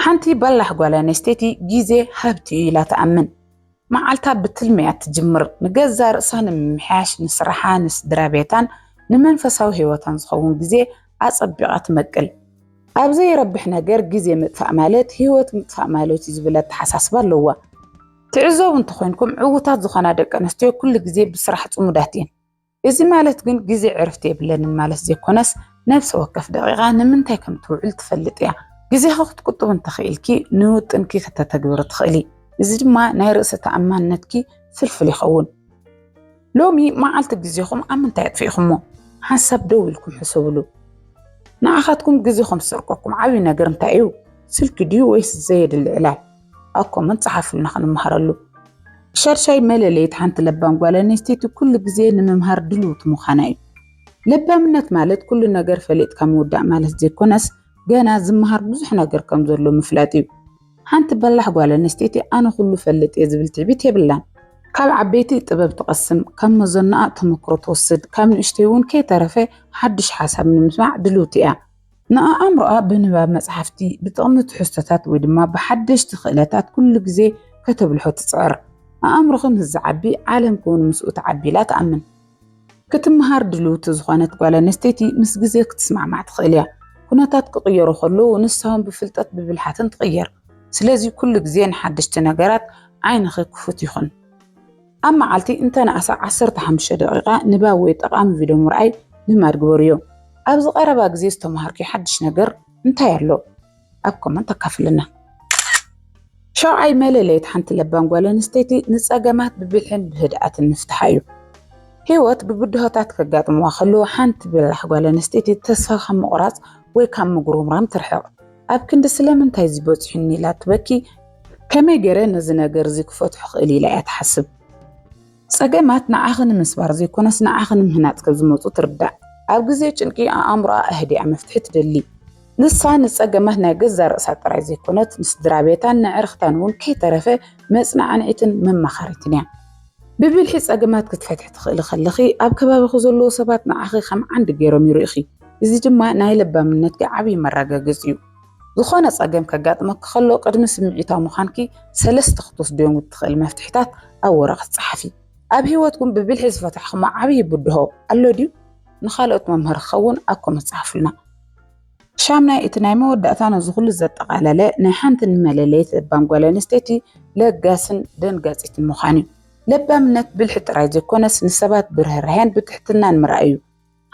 ሓንቲ በላሕ ጓል ኣንስተይቲ ግዜ ሃብቲ እዩ ኢላ ትኣምን። መዓልታ ብትልሚ እያ እትጅምር። ንገዛእ ርእሳ ንምምሕያሽ፣ ንስራሓ፣ ንስድራቤታን ንመንፈሳዊ ህይወታን ዝኸውን ግዜ ኣጸቢቓ ትመቅል። ኣብ ዘይረብሕ ነገር ግዜ ምጥፋእ ማለት ህይወት ምጥፋእ ማለት እዩ ዝብል ኣተሓሳስባ ኣለዋ። ትዕዘቡ እንተኾይንኩም ዕዉታት ዝኾና ደቀንስትዮ ኩሉ ግዜ ብስራሕ ጽሙዳት እየን። እዚ ማለት ግን ግዜ ዕርፍቲ የብለንን ማለት ዘይኮነስ ነፍሲ ወከፍ ደቂቃ ንምንታይ ከም ትውዕል ትፈልጥ እያ። ግዜኺ ክትቁጥቢ እንተኽኢልኪ ንውጥንኪ ክተተግብሪ ትኽእሊ። እዚ ድማ ናይ ርእሰ ተኣማንነትኪ ፍልፍል ይኸውን። ሎሚ መዓልቲ ግዜኹም ኣብ ምንታይ ኣጥፊእኹሞ? ሓንሳብ ደው ኢልኩም ሕሰብሉ። ንዓኻትኩም ግዜኹም ዝሰርቀኩም ዓብዪ ነገር እንታይ እዩ? ስልኪ ድዩ ወይስ ዘየድሊ ዕላል? ኣብ ኮመንት ጸሓፉልና ክንመሃረሉ። ሻድሻይ መለለይት ሓንቲ ለባም ጓል ኣንስተይቲ ኩሉ ግዜ ንምምሃር ድልውቲ ምዃና እዩ። ለባምነት ማለት ኩሉ ነገር ፈሊጥካ ምውዳእ ማለት ዘይኮነስ ገና ዝመሃር ብዙሕ ነገር ከም ዘሎ ምፍላጥ እዩ። ሓንቲ በላሕ ጓል ኣንስተይቲ ኣነ ኩሉ ፈልጥ እየ ዝብል ትዕቢት የብላን። ካብ ዓበይቲ ጥበብ ትቐስም፣ ካብ መዘናኣ ተመክሮ ትወስድ፣ ካብ ንእሽተይ እውን ከይተረፈ ሓድሽ ሓሳብ ንምስማዕ ድልውቲ እያ። ንኣእምሮኣ ብንባብ መጽሓፍቲ፣ ብጥቕሚ ትሕዝቶታት ወይ ድማ ብሓደሽቲ ክእለታት ኩሉ ግዜ ከተብልሖ ትጽዕር። ኣእምሮኺ ምስ ዝዓቢ ዓለምኪ'ውን ምስኡ ትዓቢ ኢላ ትኣምን። ክትመሃር ድልውቲ ዝኾነት ጓል ኣንስተይቲ ምስ ግዜ ክትስማዕማዕ ትኽእል እያ። ኩነታት ክቕየሩ ከለዉ ንሳ'ውን ብፍልጠት ብብልሓትን ትቕየር። ስለዚ ኩሉ ግዜ ንሓደሽቲ ነገራት ዓይንኺ ክፉት ይኹን። ኣብ መዓልቲ እንተነኣሰ ዓሰርተ ሓሙሽተ ደቒቓ ንባብ ወይ ጠቓሚ ቪድዮ ምርኣይ ልማድ ግበርዮ። ኣብዚ ቀረባ ግዜ ዝተመሃርክዮ ሓድሽ ነገር እንታይ ኣሎ? ኣብ ኮመንት ኣካፍልና። ሻውዓይ መለለይት ሓንቲ ለባም ጓል ኣንስተይቲ ንጸገማት ብብልሕን ብህድኣትን ምፍትሓ እዩ። ህይወት ብብድሆታት ከጋጥምዋ ከለዉ ሓንቲ በላሕ ጓል ኣንስተይቲ ተስፋ ካብ ምቑራጽ ወይ ካብ ምጉርምራም ትርሕቕ። ኣብ ክንዲ ስለምንታይ እዚ በጺሑኒ ኢላ ትበኪ፣ ከመይ ገይረ ነዚ ነገር እዚ ክፈትሖ እኽእል ኢላ እያ ትሓስብ። ጸገማት ንዓኺ ንምስባር ዘይኮነስ ንዓኺ ንምህናጽ ከም ዝመጹ ትርዳእ። ኣብ ግዜ ጭንቂ ኣእምሮኣ ኣህዲኣ መፍትሒ ትደሊ። ንሳ ንጸገማት ናይ ገዛእ ርእሳ ጥራይ ዘይኮነት ንስድራቤታን ንኣዕርኽታን እውን ከይተረፈ መጽናዕኒዒትን መማኸሪትን እያ። ብብልሒ ጸገማት ክትፈትሒ ትኽእሊ ከለኺ፣ ኣብ ከባቢኺ ዘለዉ ሰባት ንዓኺ ከም ዓንዲ ገይሮም ይርእዩኺ፣ እዚ ድማ ናይ ለባምነትኪ ዓብዪ መረጋገጺ'ዩ። ዝኾነ ጸገም ከጋጥመኪ ከሎ፣ ቅድሚ ስምዒታዊ ምዃንኪ ሰለስተ ክትወስድዮም እትኽእሊ መፍትሒታት ኣብ ወረቐት ጸሓፊ። ኣብ ህይወትኩም ብብልሒ ዝፈታሕክሞ ዓብዪ ብድሆ ኣሎ ድዩ? ንኻልኦት መምሃሪ ክኸውን ኣብ ኮመንት ጸሓፉልና። ሻምናይ እቲ ናይ መወዳእታ ነዚ ኩሉ ዘጠቓለለ ናይ ሓንቲ ንመለለይት ለባም ጓል ኣንስተይቲ ለጋስን ደንጋጺትን ምዃን እዩ። ለባምነት ብልሒ ጥራይ ዘይኮነስ ንሰባት ብርህራሄን ብትሕትናን ምርኣይ እዩ።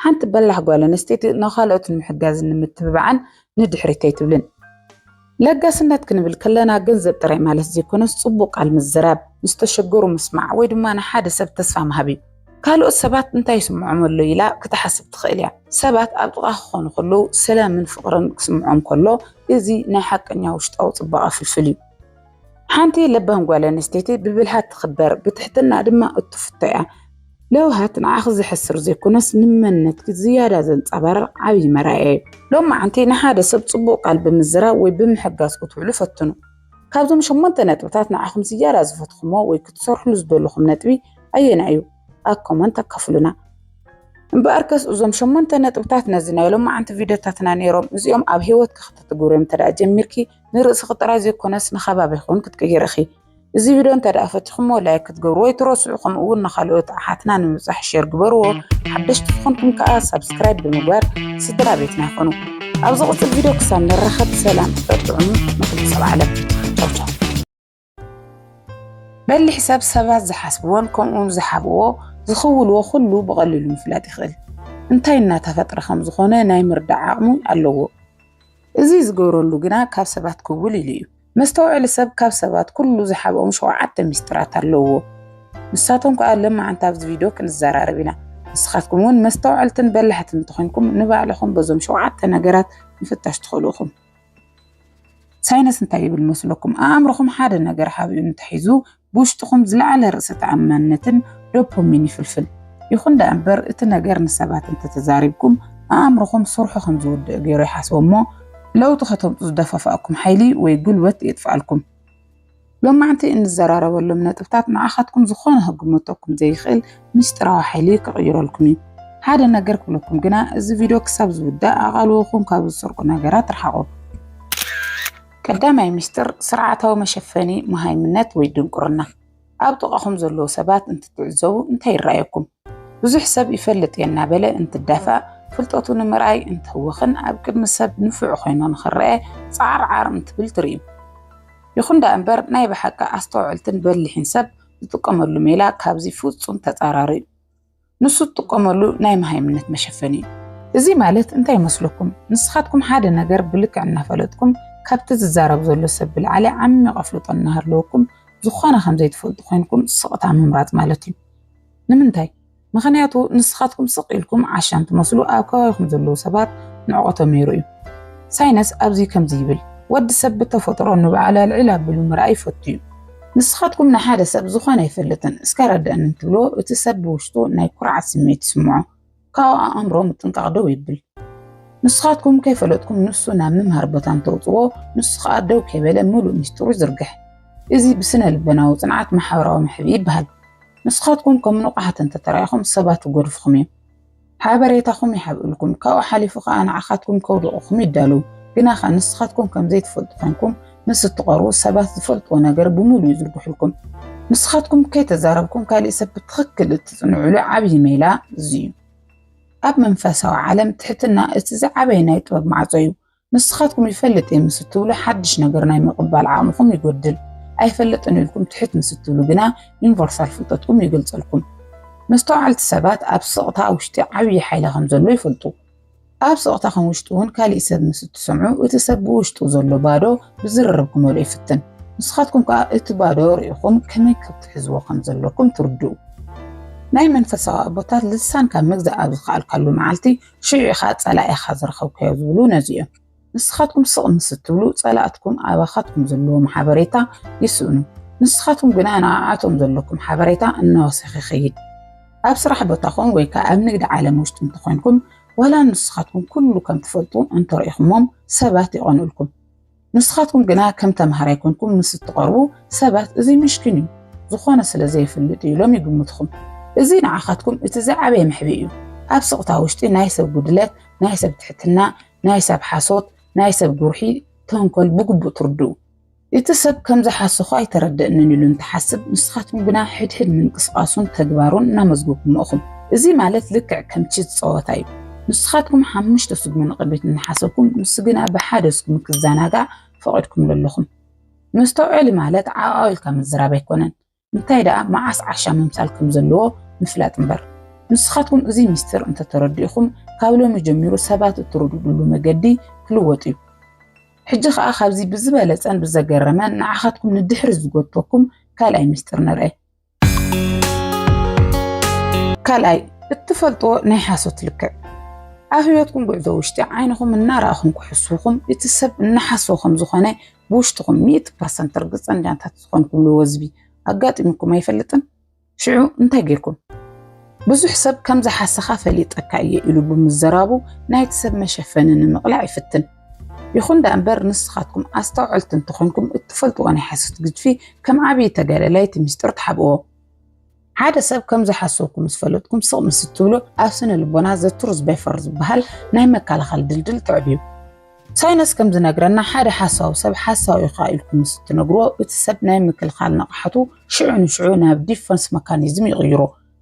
ሓንቲ በላሕ ጓል ኣንስተይቲ ንኻልኦት ንምሕጋዝን ንምትብባዕን ንድሕሪት ኣይትብልን። ለጋስነት ክንብል ከለና ገንዘብ ጥራይ ማለት ዘይኮነስ ጽቡቕ ቃል ምዝራብ፣ ምስ ዝተሸገሩ ምስማዕ ወይ ድማ ንሓደ ሰብ ተስፋ ምሃብ እዩ። ካልኦት ሰባት እንታይ ይስምዖም ኣሎ ኢላ ክትሓስብ ትኽእል እያ። ሰባት ኣብ ጥቓኻ ክኾኑ ከለዉ ሰላምን ፍቕርን ክስምዖም ከሎ እዚ ናይ ሓቀኛ ውሽጣዊ ጽባቐ ፍልፍል እዩ። ሓንቲ ለባም ጓል ኣንስተይቲ ብብልሃት ትኽበር፣ ብትሕትና ድማ እትፍቶ እያ። ለውሃት ንዓኺ ዘሕስር ዘይኮነስ ንመንነትኪ ዝያዳ ዘንጸባርቕ ዓብዪ መርኣያ እዩ። ሎም መዓንቲ ንሓደ ሰብ ጽቡቕ ቃል ብምዝራብ ወይ ብምሕጋዝ ክትውዕሉ ፈትኑ። ካብዞም ሸሞንተ ነጥብታት ንዓኹም ዝያዳ ዝፈትኹሞ ወይ ክትሰርሕሉ ዝደለኹም ነጥቢ ኣየናይ እዩ? ኣብ ኮመንት ኣካፍሉና። እምበኣርከስ እዞም ሸሞንተ ነጥብታት ነዚ ናይ ሎም መዓንቲ ቪድዮታትና ነይሮም። እዚኦም ኣብ ህይወትኪ ክተትግብርዮም እንተደኣ ጀሚርኪ ንርእስኺ ጥራይ ዘይኮነስ ንከባቢኺ እውን ክትቅይሪ ኢኺ። እዚ ቪድዮ እንተደኣ ፈቲኹሞ ላይክ ክትገብሩ ወይ ትረስዑ ከምኡ እውን ንካልኦት ኣሓትና ንምብፃሕ ሼር ግበርዎ ሓደሽቲ ዝኾንኩም ከዓ ሳብስክራይብ ብምግባር ስድራ ቤትና ይኾኑ ኣብ ዝቕፅል ቪድዮ ክሳብ ንራኸብ ሰላም ፍቅር ጥዑሙ ንኩሉ ሰብ ዓለም ቻውቻው በሊሕ ሰብ ሰባት ዝሓስብዎን ከምኡውን ዝሓብዎ ዝኽውልዎ ኩሉ ብቐሊሉ ምፍላጥ ይኽእል እንታይ እናተፈጥረ ከም ዝኾነ ናይ ምርዳእ ዓቕሚ ኣለዎ እዚ ዝገብረሉ ግና ካብ ሰባት ክውል ኢሉ እዩ መስተውዐሊ ሰብ ካብ ሰባት ኩሉ ዝሓብኦም ሸውዓተ ሚስጥራት ኣለውዎ ንሳቶም ከኣ ለማዓንቲ ኣብዚ ቪድዮ ክንዘራረብ ኢና ንስኻትኩም እውን መስተውዐልትን በላሕትን እንተኾይንኩም ንባዕልኹም በዞም ሸውዓተ ነገራት ምፍታሽ ትኽእሉ ኢኹም። ሳይነስ እንታይ ይብል መስለኩም ኣኣምርኹም ሓደ ነገር ሓቢኡ እንተሒዙ ብውሽጥኹም ዝለዓለ ርእሰ ተኣማንነትን ዶፖሚን ይፍልፍል። ይኹን ደኣ እምበር እቲ ነገር ንሰባት እንተተዛሪብኩም ኣእምሮኹም ስርሑ ከም ዝውድእ ገይሩ ይሓስቦ እሞ ለውጢ ከተምጹ ዝደፋፍኣኩም ሓይሊ ወይ ጉልበት የጥፍኣልኩም። ሎማዕንቲ እንዘራረበሎም ነጥብታት ንዓኻትኩም ዝኾነ ክግመተኩም ዘይኽእል ምስጢራዊ ሓይሊ ክቕይረልኩም እዩ። ሓደ ነገር ክብለኩም ግና እዚ ቪድዮ ክሳብ ዝውዳእ ኣቓልቦኹም ካብ ዝሰርቁ ነገራት ርሓቑ። ቀዳማይ ሚስጥር ስርዓታዊ መሸፈኒ መሃይምነት ወይ ድንቁርና። ኣብ ጥቓኹም ዘለዉ ሰባት እንትትዕዘቡ እንታይ ይረኣየኩም? ብዙሕ ሰብ ይፈልጥ እየ እናበለ እንትዳፋእ፣ ፍልጠቱ ንምርኣይ እንትህወኽን ኣብ ቅድሚ ሰብ ንፉዕ ኮይኑ ንኽረኣ ጻዕርዓር እንትብል ትርእዩ። ይኹን ደኣ እምበር ናይ ብሓቂ ኣስተውዕልትን በሊሕን ሰብ ዝጥቀመሉ ሜላ ካብዚ ፍጹም ተጻራሪ'ዩ። ንሱ ትጥቀመሉ ናይ መሃይምነት መሸፈኒ እዩ። እዚ ማለት እንታይ ይመስለኩም? ንስኻትኩም ሓደ ነገር ብልክዕ እናፈለጥኩም ካብቲ ዝዛረብ ዘሎ ሰብ ብላዕሊ ዓሚቕ ኣፍልጦ እናሃለወኩም ዝኾነ ከም ዘይትፈልጡ ኮይንኩም ስቕታ ምምራጽ ማለት እዩ። ንምንታይ? ምኽንያቱ ንስኻትኩም ስቕ ኢልኩም ዓሻን ትመስሉ ኣብ ከባቢኹም ዘለዉ ሰባት ንዕቐቶም የርእዩ። ሳይነስ ኣብዚ ከምዚ ይብል፣ ወዲ ሰብ ብተፈጥሮ ንባዕሉ ኣልዒል ኣቢሉ ምርኣይ ይፈቱ እዩ። ንስኻትኩም ንሓደ ሰብ ዝኾነ ኣይፈልጥን እስከ ኣረድኣኒ እንትብልዎ እቲ ሰብ ብውሽጡ ናይ ኩርዓት ስምዒት ይስምዖ ካብኡ ኣእምሮ ምጥንቃቕ ደው ይብል። ንስኻትኩም ከይፈለጥኩም ንሱ ናብ ምምሃር ቦታ እንተውፅዎ ንሱ ከዓ ደው ከይበለ ምሉእ ሚስጥሩ ይዝርግሕ። እዚ ብስነ ልበናዊ ፅንዓት ማሕበራዊ ምሕብኢ ይበሃል። ንስኻትኩም ከም ንቑሓት እንተተራኢኹም ሰባት ይጎድፍኹም እዮም። ሓበሬታኹም ይሓብእልኩም፣ ካብኡ ሓሊፉ ከኣ ንዓኻትኩም ከውድቑኹም ይዳለዉ። ግናኸ ንስኻትኩም ከም ዘይትፈልጡ ኴንኩም ምስ እትቐርቡ፣ ሰባት ዝፈልጥዎ ነገር ብምሉኡ ይዝርግሑልኩም። ንስኻትኩም ከይተዛረብኩም ካልእ ሰብ ብትኽክል እትጽንዑሉ ዓብዪ ሜላ እዚ እዩ። ኣብ መንፈሳዊ ዓለም ትሕትና እቲ ዝዓበየ ናይ ጥበብ ማዕጾ እዩ። ንስኻትኩም ይፈልጥ እየ ምስ እትብሉ ሓድሽ ነገር ናይ ምቕባል ዓቕምኹም ይጎድል። ኣይፈልጥን ኢልኩም ትሕት ምስ እትብሉ ግና ዩኒቨርሳል ፍልጠትኩም ይገልጸልኩም። መስተውዓልቲ ሰባት ኣብ ስቕታ ውሽጢ ዓብዪ ሓይሊ ከም ዘሎ ይፈልጡ። ኣብ ስቕታኹም ውሽጢ እውን ካሊእ ሰብ ምስ እትሰምዑ እቲ ሰብ ብውሽጡ ዘሎ ባዶ ብዝርርብ ክመልኦ ይፍትን። ንስኻትኩም ከዓ እቲ ባዶ ርኢኹም ከመይ ክትሕዝዎ ከም ዘለኩም ትርድኡ። ናይ መንፈሳዊ ኣቦታት ልሳን ካብ ምግዛእ ኣብ ዝኸኣልካሉ መዓልቲ ሽዑ ኢኻ ጸላኢኻ ዝረኸብካዮ ዝብሉ ነዚ እዮም። ንስኻትኩም ስቕ ምስ እትብሉ ጸላእትኩም ኣባኻትኩም ዘለዎም ሓበሬታ ይስእኑ። ንስኻትኩም ግና ንኣኣቶም ዘለኩም ሓበሬታ እናወሰኸ ይኸይድ። ኣብ ስራሕ ቦታኹም ወይ ከኣ ኣብ ንግዲ ዓለም ውሽጢ እንተኾይንኩም ዋላ ንስኻትኩም ኩሉ ከም ትፈልጡ እንተረኢኹሞም ሰባት ይቐንኡልኩም። ንስኻትኩም ግና ከም ተምሃራይ ኮንኩም ምስ እትቐርቡ፣ ሰባት እዚ ምሽኪን እዩ፣ ዝኾነ ስለ ዘይፍልጥ እዩ ኢሎም ይግምቱኹም። እዚ ንዓኻትኩም እቲ ዝዓበየ መሕብኢ እዩ። ኣብ ስቕታ ውሽጢ ናይ ሰብ ጉድለት፣ ናይ ሰብ ትሕትና፣ ናይ ሰብ ሓሶት፣ ናይ ሰብ ጉርሒ፣ ተንኮል ብግቡእ ትርድኡ። እቲ ሰብ ከም ዝሓሰኹ ኣይተረደእንን ኢሉ እንትሓስብ፣ ንስኻትኩም ግና ሕድሕድ ምንቅስቓሱን ተግባሩን እናመዝገብኩሞ እኹም። እዚ ማለት ልክዕ ከም ቺዝ ጸወታ እዩ። ንስኻትኩም ሓሙሽተ ስጉሚ ንቕድሚት እናሓሰብኩም ንሱ ግና ብሓደ ስጉሚ ክዘናጋዕ ፈቒድኩምሉ ኣለኹም። መስተውዐሊ ማለት ዓዕዓው ኢልካ ምዝራብ ኣይኮነን፣ እንታይ ደኣ መዓስ ዓሻ ምምሳል ከም ዘለዎ ምፍላጥ እምበር። ንስኻትኩም እዚ ሚስጢር እንተተረዲእኹም ካብ ሎሚ ጀሚሩ ሰባት እትርድድሉ መገዲ ክልወጥ እዩ። ሕጂ ከኣ ካብዚ ብዝበለጸን ብዘገረመን ንዓኻትኩም ንድሕሪ ዝጎትተኩም ካልኣይ ሚስጢር ንርኣይ። ካልኣይ እትፈልጥዎ ናይ ሓሶት ልክዕ ኣብ ህይወትኩም ጉዕዞ ውሽጢ ዓይንኹም እናረኣኹም ክሕስኹም እቲ ሰብ እናሓሶ ከም ዝኾነ ብውሽጥኹም ሚእቲ ፐርሰንት ርግፀኛታት ዝኾንኩሉ ወዝቢ ኣጋጢሙኩም ኣይፈልጥን? ሽዑ እንታይ ጌርኩም? ብዙሕ ሰብ ከም ዝሓሰኻ ፈሊጠካ እየ ኢሉ ብምዘራቡ ናይቲ ሰብ መሸፈኒ ንምቕላዕ ይፍትን። ይኹን ደኣ እምበር ንስኻትኩም ኣስተውዐልቲ እንተኾንኩም እትፈልጥዎ ናይ ሓሶት ግድፊ ከም ዓብዪ ተጋዳላይ እቲ ምስጢር ትሓብእዎ። ሓደ ሰብ ከም ዝሓሰብኩ ምስ ፈለጥኩም ስቕ ምስ እትብሉ ኣብ ስነ ልቦና ዘትሩ ዝበይፈር ዝበሃል ናይ መከላኸሊ ድልድል ተዕብዩ። ሳይነስ ከም ዝነግረና ሓደ ሓሳዊ ሰብ ሓሳዊ ኢኻ ኢልኩም ምስ እትነግርዎ እቲ ሰብ ናይ ምክልኻል ንቕሓቱ ሽዑ ንሽዑ ናብ ዲፈንስ መካኒዝም ይቕይሮ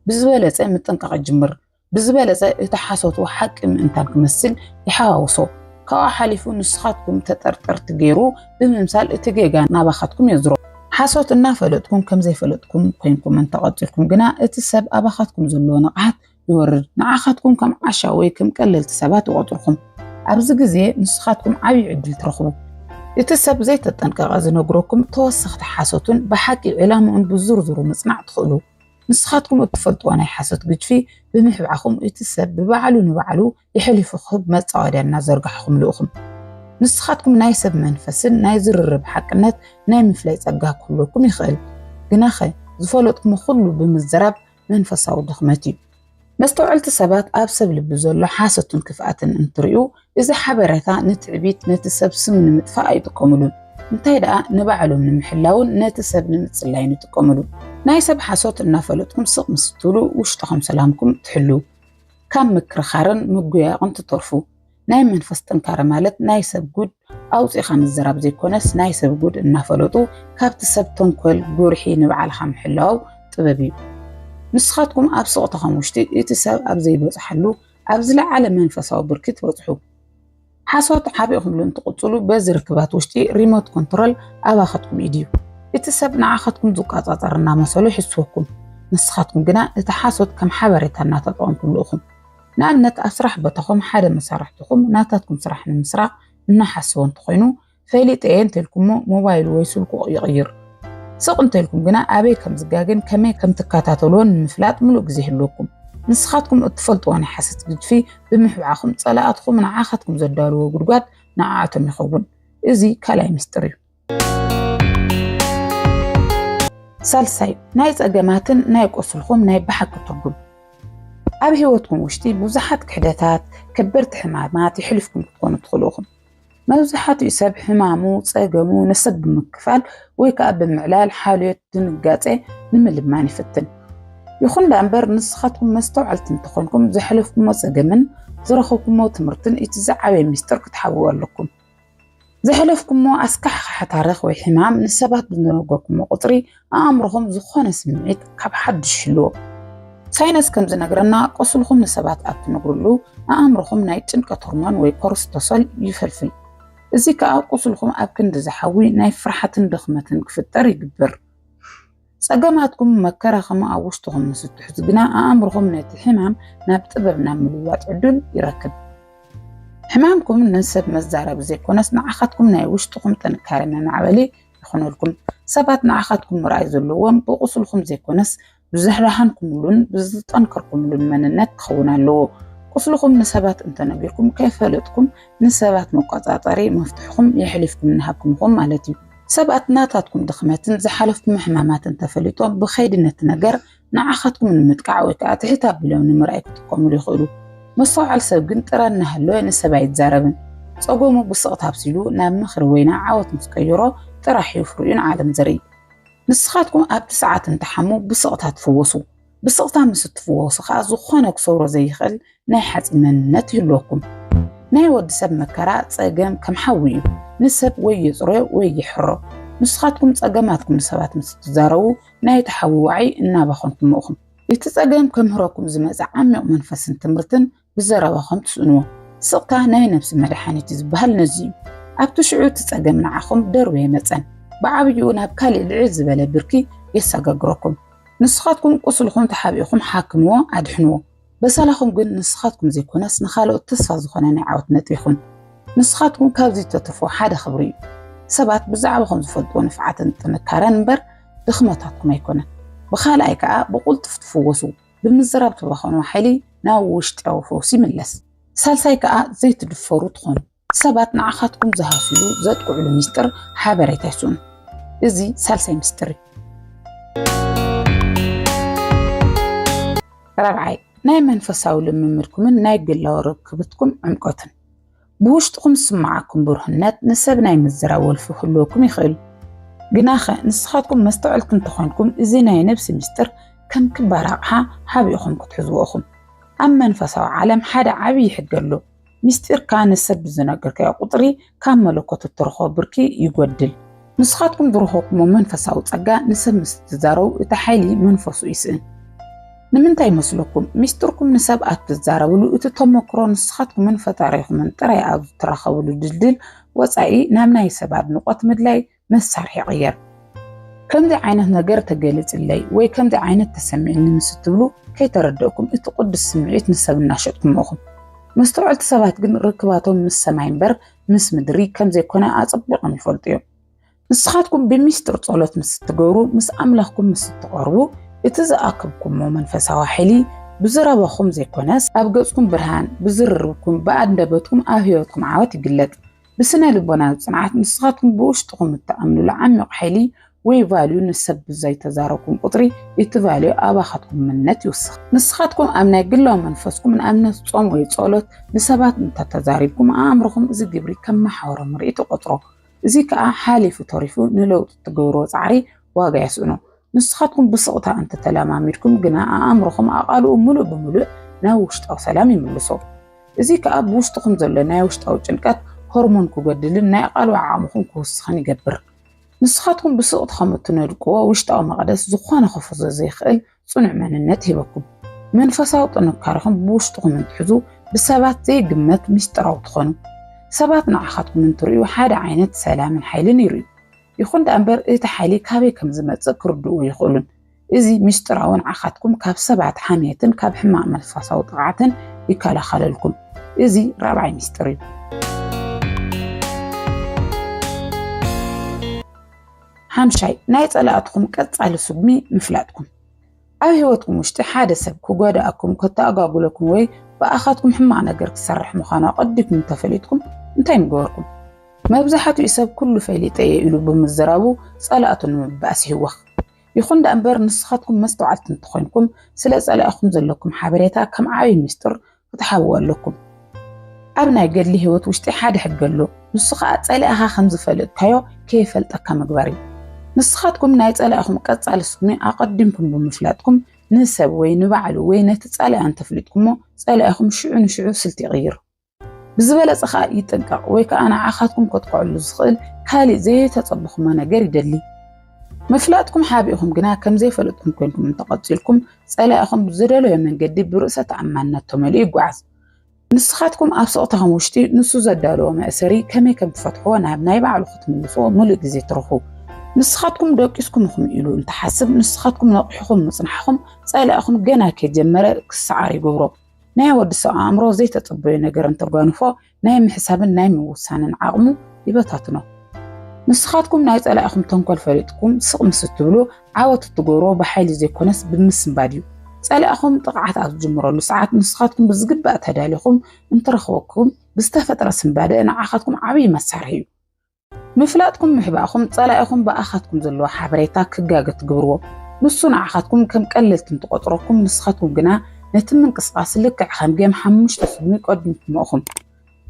ብዝበለፀ ምጥንቃቕ ይጅምር። ብዝበለጸ እቲ ሓሶት ሓቂ ምእንታን ክመስል ይሓዋውሶ። ካብኡ ሓሊፉ ንስኻትኩም ተጠርጠርቲ ገይሩ ብምምሳል እቲ ጌጋ ናባኻትኩም የዝሮ። ሓሶት እናፈለጥኩም ከም ዘይፈለጥኩም ኮይንኩም እንተቐጺልኩም ግና እቲ ሰብ ኣባኻትኩም ዘለዎ ንቕሓት ይወርድ። ንዓኻትኩም ከም ዓሻ ወይ ከም ቀለልቲ ሰባት ይቖጽርኩም። ኣብዚ ግዜ ንስኻትኩም ዓብዪ ዕድል ትረኽቡ። እቲ ሰብ ዘይተጠንቀቐ ዝነግረኩም ተወሰኽቲ ሓሶትን ብሓቂ ዒላምኡን ብዝርዝሩ ምጽናዕ ትኽእሉ። ንስኻትኩም እትፈልጥዎ ናይ ሓሶት ግጅፊ ብምሕብዓኹም እቲ ሰብ ብባዕሉ ንባዕሉ የሕሊፉ ክህብ መጻወድያ እናዘርጋሕኹምሉ እኹም። ንስኻትኩም ናይ ሰብ መንፈስን ናይ ዝርርብ ሓቅነት ናይ ምፍላይ ጸጋ ክህልወኩም ይኽእል። ግናኸ ዝፈለጥኩሞ ኩሉ ብምዝራብ መንፈሳዊ ድኽመት እዩ። መስተውዐልቲ ሰባት ኣብ ሰብ ልቢ ዘሎ ሓሶትን ክፍኣትን እንትሪኡ እዚ ሓበረታ ንትዕቢት ነቲ ሰብ ስም ንምጥፋእ ኣይጥቀሙሉን እንታይ ደኣ ንባዕሎም ንምሕላውን ነቲ ሰብ ንምጽላይን ይጥቀሙሉ ናይ ሰብ ሓሶት እናፈለጥኩም ስቕ ምስ እትብሉ ውሽጥኹም ሰላምኩም ትሕልው ካብ ምክርኻርን ምጉያቕን ትተርፉ ናይ መንፈስ ጥንካረ ማለት ናይ ሰብ ጉድ ኣውፂእኻ ምዝራብ ዘይኮነስ ናይ ሰብ ጉድ እናፈለጡ ካብቲ ሰብ ተንኮል ጉርሒ ንባዕልኻ ምሕላው ጥበብ እዩ። ንስኻትኩም ኣብ ስቕታኹም ውሽጢ እቲ ሰብ ኣብ ዘይበፅሓሉ ኣብ ዝለዓለ መንፈሳዊ ብርኪ ትበፅሑ። ሓሶት ዓቢኹምሉ እንትቕፅሉ በዚ ርክባት ውሽጢ ሪሞት ኮንትሮል ኣባኻትኩም ኢድ እዩ። እቲ ሰብ ንዓኻትኩም ዝቆፃፀር እናመሰሉ ይሕስወኩም፣ ንስኻትኩም ግና እቲ ሓሶት ከም ሓበሬታ እናተጠቐምኩምሉ ኢኹም። ንኣብነት ኣብ ስራሕ ቦታኹም ሓደ መሳርሕትኹም ናታትኩም ስራሕ ንምስራቕ እናሓሰወ እንተኾይኑ ፈሊጠ እየ እንተልኩሞ ሞባይሉ ወይ ስልኩ ይቕይር። ስቕ እንተልኩም ግና ኣበይ ከም ዝጋገን ከመይ ከም ትከታተልዎን ንምፍላጥ ምሉእ ግዜ ይህልወኩም። ንስኻትኩም እትፈልጥዎ ናይ ሓሰት ግጅፊ ብምሕብዓኹም ጸላእትኹም ንዓኻትኩም ዘዳልዎ ጉድጓድ ንዓኣቶም ይኸውን። እዚ ካልኣይ ምስጢር እዩ። ሳልሳይ ናይ ጸገማትን ናይ ቁስልኹም ናይ ብሓቂ ትርጉም ኣብ ህይወትኩም ውሽጢ ብዙሓት ክሕደታት ከበድቲ ሕማማት ይሕልፍኩም ክትኮኑ ትኽእሉ ኢኹም መብዛሕትኡ ሰብ ሕማሙ ጸገሙ ንሰብ ብምክፋል ወይ ከዓ ብምዕላል ሓልዮት ድንጋጼ ንምልማን ይፍትን ይኹን ዳ እምበር ንስኻትኩም መስተውዓልቲ እንተኾንኩም ዘሕለፍኩሞ ጸገምን ዝረኸብኩሞ ትምህርትን እቲ ዝዓበየ ሚስጥር ክትሓብኡ ኣለኩም ዘሕለፍኩሞ ኣስካሕኻሒ ታሪኽ ወይ ሕማም ንሰባት ብዝነገርኩሞ ቁፅሪ ኣእምሮኹም ዝኾነ ስምዒት ካብ ሓዱሽ ይህልዎ። ሳይነስ ከም ዝነግረና ቁስልኹም ንሰባት ኣብ ትነግርሉ ኣእምሮኹም ናይ ጭንቀት ሆርሞን ወይ ኮርስቶሶል ይፈልፍል። እዚ ከዓ ቁስልኹም ኣብ ክንዲ ዝሓዊ ናይ ፍርሓትን ድኽመትን ክፍጠር ይግብር። ጸገማትኩም መከራኹም ኣብ ውሽጥኹም ምስ እትሕዙ ግና ኣእምርኹም ነቲ ሕማም ናብ ጥበብ ናብ ምልዋጥ ዕዱል ይረክብ። ሕማምኩም ንሰብ መዛረቢ ዘይኮነስ ንዓኻትኩም ናይ ውሽጥኹም ጥንካረ መማዕበሊ ይኹነልኩም። ሰባት ንዓኻትኩም ምርኣይ ዘለዎም ብቁስልኩም ዘይኮነስ ብዝሕራሓንኩምሉን ብዝጠንከርኩምሉን መንነት ክኸውን ኣለዎ። ቁስልኹም ንሰባት እንተነጊርኩም ከይፈለጥኩም ንሰባት መቆጻጸሪ መፍትሕኹም የሕሊፍኩም እናሃብኩም ኢኹም ማለት እዩ። ሰባት ናታትኩም ድኽመትን ዝሓለፍኩም ሕማማትን ተፈሊጦም ብኸይዲ ነቲ ነገር ንዓኻትኩም ንምጥቃዕ ወይ ከዓ ትሕት ኣቢሎም ንምርኣይ ክጥቀሙሉ ይኽእሉ። መስተውዓል ሰብ ግን ጥረ እናሃለወ ንሰብ ኣይዛረብን። ፀገሙ ብስቕታ ኣብሲሉ ናብ ምኽሪ ወይ ናብ ዓወት ምስ ቀየሮ ጥራሕ እዩ ፍሪኡ ንዓለም ዘርኢ። ንስኻትኩም ኣብቲ ሰዓት እንትሓሙ ብስቕታ ትፍወሱ። ብስቕታ ምስ እትፍወሱ ኸኣ ዝኾነ ክሰብሮ ዘይኽእል ናይ ሓጺን መንነት ይህልወኩም። ናይ ወዲ ሰብ መከራ፣ ጸገም፣ ከም ሓዊ እዩ። ንሰብ ወይ የጽርዮ ወይ ይሕሮ። ንስኻትኩም ጸገማትኩም ንሰባት ምስ እትዛረቡ፣ ናይ እቲ ሓዊ ዋዒ እናባኸንኩሞ ኢኹም። እቲ ጸገም ከምህረኩም ዝመጸ ዓሚቕ መንፈስን ትምህርትን ብዘረባኹም ትስእንዎ ስቕታ ናይ ነብሲ መድሓኒት ዝበሃል ነዚ እዩ። ኣብቲ ሽዑ እቲ ጸገም ንዓኹም ደርብየ መጸን ብዓብይኡ ናብ ካሊእ ልዕል ዝበለ ብርኪ የሰጋግረኩም። ንስኻትኩም ቁስልኹም ተሓቢእኹም ሓክምዎ ኣድሕንዎ። በሰላኹም ግን ንስኻትኩም ዘይኮነስ ንኻልኦት ተስፋ ዝኾነ ናይ ዓወት ነጥቢ ይኹን። ንስኻትኩም ካብዚ እተትርፍዎ ሓደ ክብሪ እዩ። ሰባት ብዛዕባኹም ዝፈልጥዎ ንፍዓትን ጥንካረን እምበር ድኽመታትኩም ኣይኮነን። ብኻልኣይ ከኣ ብቑልጡፍ ትፍወሱ። ብምዝራብ ትባኸኑ ሓይሊ ናብ ውሽጢዊ ፈውሲ ይምለስ። ሳልሳይ ከኣ ዘይትድፈሩ ትኾኑ። ሰባት ንዓኻትኩም ዝሃስዩሉ ዘጥቅዕሉ ሚስጥር ሓበሬታ ይስእኑ። እዚ ሳልሳይ ሚስጥር እዩ። ራብዓይ ናይ መንፈሳዊ ልምምድኩምን ናይ ግላዊ ርክብትኩም ዕምቆትን ብውሽጥኹም ዝስምዓኩም ብሩህነት ንሰብ ናይ ምዝራብ ወልፊ ክህልወኩም ይኽእል። ግናኸ ንስኻትኩም መስተውዐልቲ እንተኾንኩም እዚ ናይ ነብሲ ምስጢር ከም ክባር ኣቕሓ ሓቢእኹም ክትሕዝዎ ኢኹም። ኣብ መንፈሳዊ ዓለም ሓደ ዓብዪ ሕጊ ኣሎ፣ ምስጢርካ ንሰብ ብዝነገርካዮ ቁጽሪ ካብ መለኮት እትረኽቦ ብርኪ ይጎድል። ንስኻትኩም ዝረኸብኩሞ መንፈሳዊ ጸጋ ንሰብ ምስ ትዛረቡ እቲ ሓይሊ መንፈሱ ይስእን። ንምንታይ ይመስለኩም? ሚስጥርኩም ንሰብ ኣብ ትዛረብሉ እቲ ተሞክሮ ንስኻትኩምን ፈጣሪኹምን ጥራይ ኣብ ትራኸብሉ ድልድል ወጻኢ ናብ ናይ ሰብ ኣድንቖት ምድላይ መሳርሒ ይቕየር። ከምዚ ዓይነት ነገር ተገሊጽለይ ወይ ከምዚ ዓይነት ተሰሚዕኒ ምስ እትብሉ ከይተረደእኩም እቲ ቅዱስ ስምዒት ንሰብ እናሸጥኩሞ ኢኹም። መስተውዐልቲ ሰባት ግን ርክባቶም ምስ ሰማይ እምበር ምስ ምድሪ ከም ዘይኮነ ኣጸቢቖም ይፈልጡ እዮም። ንስኻትኩም ብሚስጥር ጸሎት ምስ እትገብሩ፣ ምስ ኣምላኽኩም ምስ እትቐርቡ፣ እቲ ዝኣከብኩሞ መንፈሳዊ ሓይሊ ብዝረባኹም ዘይኮነስ ኣብ ገጽኩም ብርሃን፣ ብዝርርብኩም፣ ብኣንደበትኩም፣ ኣብ ህይወትኩም ዓወት ይግለጽ። ብስነ ልቦናዊ ጽንዓት ንስኻትኩም ብውሽጥኹም እትኣምኑሉ ዓሚቕ ሓይሊ ወይ ቫልዩ ንሰብ ብዘይ ተዛረብኩም ቁጽሪ እቲ ቫልዩ ኣባኻትኩም ምነት ይውስኽ። ንስኻትኩም ኣብ ናይ ግላዊ መንፈስኩም ንኣብነት ጾም ወይ ጸሎት ንሰባት እንተ ተዛሪብኩም ኣእምሮኹም እዚ ግብሪ ከም መሓውሮ ምርኢት ይቆጽሮ። እዚ ከኣ ሓሊፉ ተሪፉ ንለውጢ እትገብርዎ ጻዕሪ ዋጋ የስእኖ። ንስኻትኩም ብስቕታ እንተ ተለማሚድኩም ግና ኣእምሮኹም ኣቓልኡ ምሉእ ብምሉእ ናብ ውሽጣዊ ሰላም ይምልሶ። እዚ ከኣ ብውሽጥኹም ዘሎ ናይ ውሽጣዊ ጭንቀት ሆርሞን ክጎድልን ናይ ኣቓልቦ ዓቕምኹም ክውስኽን ይገብር። ንስኻትኩም ብስቕቲ ከም እትነድቅዎ ውሽጣዊ መቕደስ ዝኾነ ክፍርሶ ዘይክእል ጽኑዕ መንነት ሂበኩም መንፈሳዊ ጥንካረኹም ብውሽጥኹም እንትሕዙ ብሰባት ዘይግመት ምስጢራዊ ትኾኑ። ሰባት ንዓኻትኩም እንትርእዩ ሓደ ዓይነት ሰላምን ሓይልን ይርእዩ። ይኹን ደኣ እምበር እቲ ሓይሊ ካበይ ከም ዝመጽእ ክርድኡ ኣይኽእሉን። እዚ ምስጢራዊ ንዓኻትኩም ካብ ሰባት ሓምየትን ካብ ሕማቕ መንፈሳዊ ጥቕዓትን ይከላኸለልኩም። እዚ ራብዓይ ምስጢር እዩ። ሓምሻይ ናይ ጸላእትኹም ቀጻሊ ስጉሚ ምፍላጥኩም። ኣብ ህይወትኩም ውሽጢ ሓደ ሰብ ክጎዳእኩም፣ ከተኣጓጉለኩም ወይ ብኣኻትኩም ሕማቕ ነገር ክሰርሕ ምዃኑ ኣቐዲኩም እንተፈሊጥኩም እንታይ ምገበርኩም? መብዛሕትኡ ሰብ ኩሉ ፈሊጠ እየ ኢሉ ብምዝራቡ ጸላእቱ ንምብኣስ ይህወኽ። ይኹን ደኣምበር ንስኻትኩም መስተውዓልቲ እንተኾይንኩም ስለ ጸላኢኹም ዘለኩም ሓበሬታ ከም ዓብይ ምስጢር ክትሓብዎ ኣለኩም። ኣብ ናይ ገድሊ ህይወት ውሽጢ ሓደ ሕጊ ኣሎ፣ ንሱ ኸኣ ጸላኢኻ ከም ዝፈለጥካዮ ከይፈልጠካ ምግባር እዩ። ንስኻትኩም ናይ ጸላኢኹም ቀጻሊ ስጉሚ ኣቐዲምኩም ብምፍላጥኩም ንሰብ ወይ ንባዕሉ ወይ ነቲ ጸላኢ እንተፍሊጥኩሞ ጸላኢኹም ሽዑ ንሽዑ ስልቲ ይቕይር። ብዝበለጸ ከኣ ይጥንቀቕ ወይ ከኣ ንዓኻትኩም ከጥቅዐሉ ዝኽእል ካልእ ዘየተጸበኹሞ ነገር ይደሊ። ምፍላጥኩም ሓቢእኹም ግና ከም ዘይፈለጥኩም ኮንኩም እንተቐጺልኩም ጸላኢኹም ብዝደለዮ መንገዲ ብርእሰ ተኣማንነት ተመሊኡ ይጓዓዝ። ንስኻትኩም ኣብ ስቕታኹም ውሽጢ ንሱ ዘዳለዎ መእሰሪ ከመይ ከም ትፈትሕዎ ናብ ናይ ባዕሉ ክትምልስዎ ምሉእ ግዜ ትረኽቡ። ንስኻትኩም ደቂስኩም ኢኹም ኢሉ እንተሓስብ ንስኻትኩም ነቒሕኹም ምጽናሕኹም ጸላኢኹም ገና ከይጀመረ ክሰዓር ይገብሮ። ናይ ወዲ ሰብ ኣእምሮ ዘይተጸበዮ ነገር እንተጓንፎ ናይ ምሕሳብን ናይ ምውሳንን ዓቕሙ ይበታትኖ። ንስኻትኩም ናይ ጸላኢኹም ተንኮል ፈሊጥኩም ስቕ ምስ እትብሉ ዓወት እትገብሮ ብሓይሊ ዘይኮነስ ብምስንባድ እዩ። ጸላኢኹም ጥቕዓት ኣብ ዝጅምረሉ ሰዓት ንስኻትኩም ብዝግባእ ተዳሊኹም እንትረኽበኩም ብዝተፈጥረ ስንባደ ንዓኻትኩም ዓብዪ መሳርሒ እዩ። ምፍላጥኩም ምሕባእኩም ጸላኢኹም ብኣኻትኩም ዘለዎ ሓበሬታ ክጋገ ትግብርዎ። ንሱ ንዓኻትኩም ከም ቀለልቲ እንትቆጽረኩም ንስኻትኩም ግና ነቲ ምንቅስቃስ ልክዕ ከም ጌም ሓሙሽተ ፍልሚ ይቀድምኩሞ እኹም።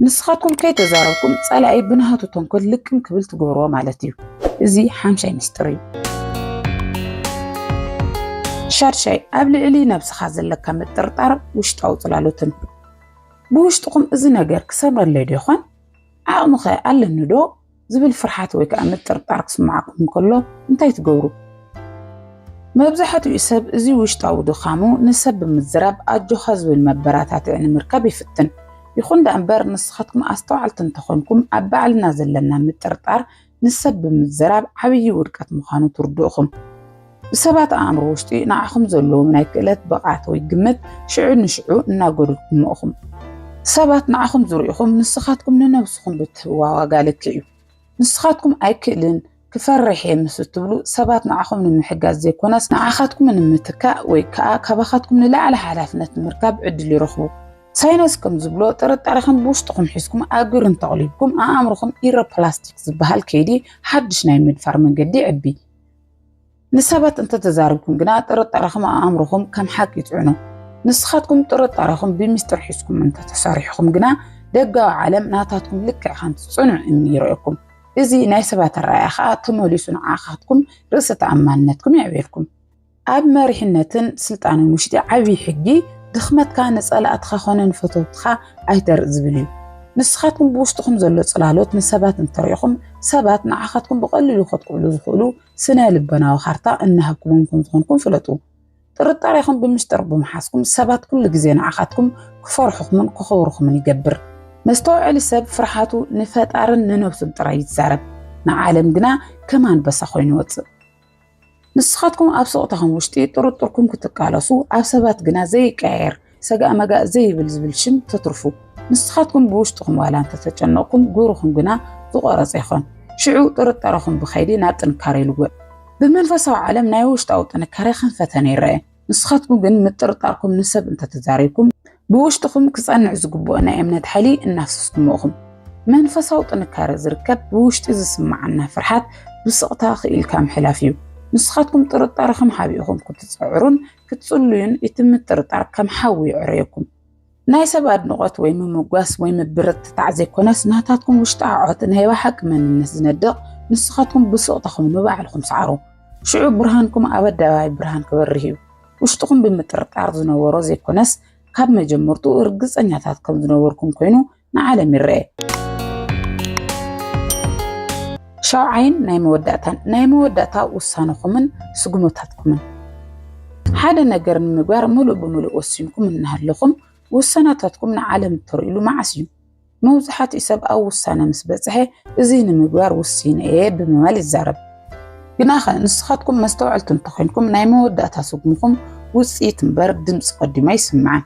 ንስኻትኩም ከይተዛረብኩም ጸላኢ ብናሃቱ ተንኮል ልቅም ክብል ትግብርዎ ማለት እዩ። እዚ ሓምሻይ ሚስጥር እዩ። ሻድሻይ ኣብ ልዕሊ ነብስኻ ዘለካ ምጥርጣር ውሽጣዊ ጽላሎትን ብውሽጥኹም እዚ ነገር ክሰምረለይ ዶ ይኾን ዓቕሚኸ ኣለኒዶ? ዝብል ፍርሓት ወይ ከኣ ምጥርጣር ክስምዓኩም እንከሎ እንታይ ትገብሩ? መብዛሕትኡ ሰብ እዚ ውሽጣዊ ድኻሙ ንሰብ ብምዝራብ ኣጆኻ ዝብል መበራታትዒ ንምርካብ ይፍትን። ይኹን ደኣምበር ንስኻትኩም ኣስተውዓልቲ እንተኾንኩም ኣብ ባዕልና ዘለና ምጥርጣር ንሰብ ብምዝራብ ዓብዪ ውድቀት ምዃኑ ትርድኡኹም። ብሰባት ኣእምሮ ውሽጢ ንዓኹም ዘለዎም ናይ ክእለት ብቕዓት ወይ ግምት ሽዑ ንሽዑ እናጎድልኩሞ ኢኹም። ሰባት ንዓኹም ዝርእኹም ንስኻትኩም ንነብስኹም ብትህብዋ ዋጋ ልክዕ እዩ። ንስኻትኩም ኣይክእልን፣ ክፈርሕ እየ ምስ እትብሉ ሰባት ንዓኹም ንምሕጋዝ ዘይኮነስ ንዓኻትኩም ንምትካእ ወይ ከኣ ካባኻትኩም ንላዕሊ ሓላፍነት ንምርካብ ዕድል ይረኽቡ። ሳይነስ ከም ዝብሎ ጥርጣረኹም ብውሽጥኹም ሒዝኩም ኣብ ግብሪ እንተቕሊብኩም ኣእምሮኹም ኢሮፕላስቲክ ዝበሃል ከይዲ ሓድሽ ናይ ምድፋር መንገዲ ይዕቢ። ንሰባት እንተተዛርብኩም ግና ጥርጣረኹም ኣእምሮኹም ከም ሓቂ ይፅዕኖ። ንስኻትኩም ጥርጣረኹም ብሚስጥር ሒዝኩም እንተተሰሪሕኹም ግና ደጋዊ ዓለም ናታትኩም ልክዕ ከምቲ ፅኑዕ እምኒ ይርእየኩም። እዚ ናይ ሰባት ኣረኣእያ ከዓ ተመሊሱ ንዓኻትኩም ርእሰ ተኣማንነትኩም የዕብየልኩም። ኣብ መሪሕነትን ስልጣንን ውሽጢ ዓብዪ ሕጊ ድኽመትካ ንፀላእትኻ ኮነ ንፈተውትኻ ኣይተርእ ዝብል እዩ። ንስኻትኩም ብውሽጥኹም ዘሎ ጽላሎት ንሰባት እንተሪኢኹም ሰባት ንዓኻትኩም ብቐሊሉ ከጥቅዕሉ ዝኽእሉ ስነ ልበናዊ ካርታ እናሃብኩሞም ከም ዝኾንኩም ፍለጡ። ጥርጣሬኹም ብምስጢር ብምሓዝኩም ሰባት ኩሉ ግዜ ንዓኻትኩም ክፈርሑኹምን ክኸብሩኹምን ይገብር። መስተውዐሊ ሰብ ፍርሓቱ ንፈጣርን ንነብሱን ጥራይ ይዛረብ፣ ንዓለም ግና ከም ኣንበሳ ኮይኑ ይወጽእ። ንስኻትኩም ኣብ ስቕታኹም ውሽጢ ጥርጥርኩም ክትቃለሱ፣ ኣብ ሰባት ግና ዘይቀያየር ሰጋእ መጋእ ዘይብል ዝብል ሽም ተትርፉ። ንስኻትኩም ብውሽጥኹም ዋላ እንተተጨነቕኩም ግብርኹም ግና ዝቖረጸ ይኾን። ሽዑ ጥርጣረኹም ብኸይዲ ናብ ጥንካረ ይልወጥ። ብመንፈሳዊ ዓለም ናይ ውሽጣዊ ጥንካረ ከም ፈተነ ይረኣ። ንስኻትኩም ግን ምጥርጣርኩም ንሰብ እንተተዛሪብኩም ብውሽጥኹም ክጸንዕ ዝግብኦ ናይ እምነት ሓይሊ እናፍሰስኩሞ እኹም። መንፈሳዊ ጥንካረ ዝርከብ ብውሽጢ ዝስምዓና ፍርሓት ብስቕታ ክኢልካ ምሕላፍ እዩ። ንስኻትኩም ጥርጣረኹም ሓቢእኹም ክትጸዕሩን ክትጽልዩን እቲ ምጥርጣር ከም ሓዊ የዕረየኩም። ናይ ሰብ ኣድንቖት ወይ ምምጓስ ወይ ምብርትታዕ ዘይኮነስ ናታትኩም ውሽጣ ዓዖት ናይ ባሓቂ መንነት ዝነድቕ ንስኻትኩም ብሱቕታኹም ንባዕልኹም ሰዓሩ ሽዑ ብርሃንኩም ኣብ ኣደባባይ ብርሃን ክበርህ እዩ ውሽጥኹም ብምጥርጣር ዝነበሮ ዘይኮነስ ካብ መጀመርትኡ እርግጸኛታት ከም ዝነበርኩም ኮይኑ ንዓለም ይረኤ ሻውዓይን ናይ መወዳእታን ናይ መወዳእታ ውሳነኹምን ስጉመታትኩምን። ሓደ ነገር ንምግባር ምሉእ ብምሉእ ወሲንኩም እናሃለኹም ውሳናታትኩም ንዓለም እተርእዩሉ መዓስ እዩ? መብዛሕትኡ ሰብ ኣብ ውሳነ ምስ በጽሐ እዚ ንምግባር ውሲነ እየ ብምባል ይዛረብ። ግናኸ ንስኻትኩም መስተውዐልቲ እንተኾይንኩም ናይ መወዳእታ ስጉምኹም ውጽኢት እምበር ድምጺ ቀዲሙ ኣይስማዕን።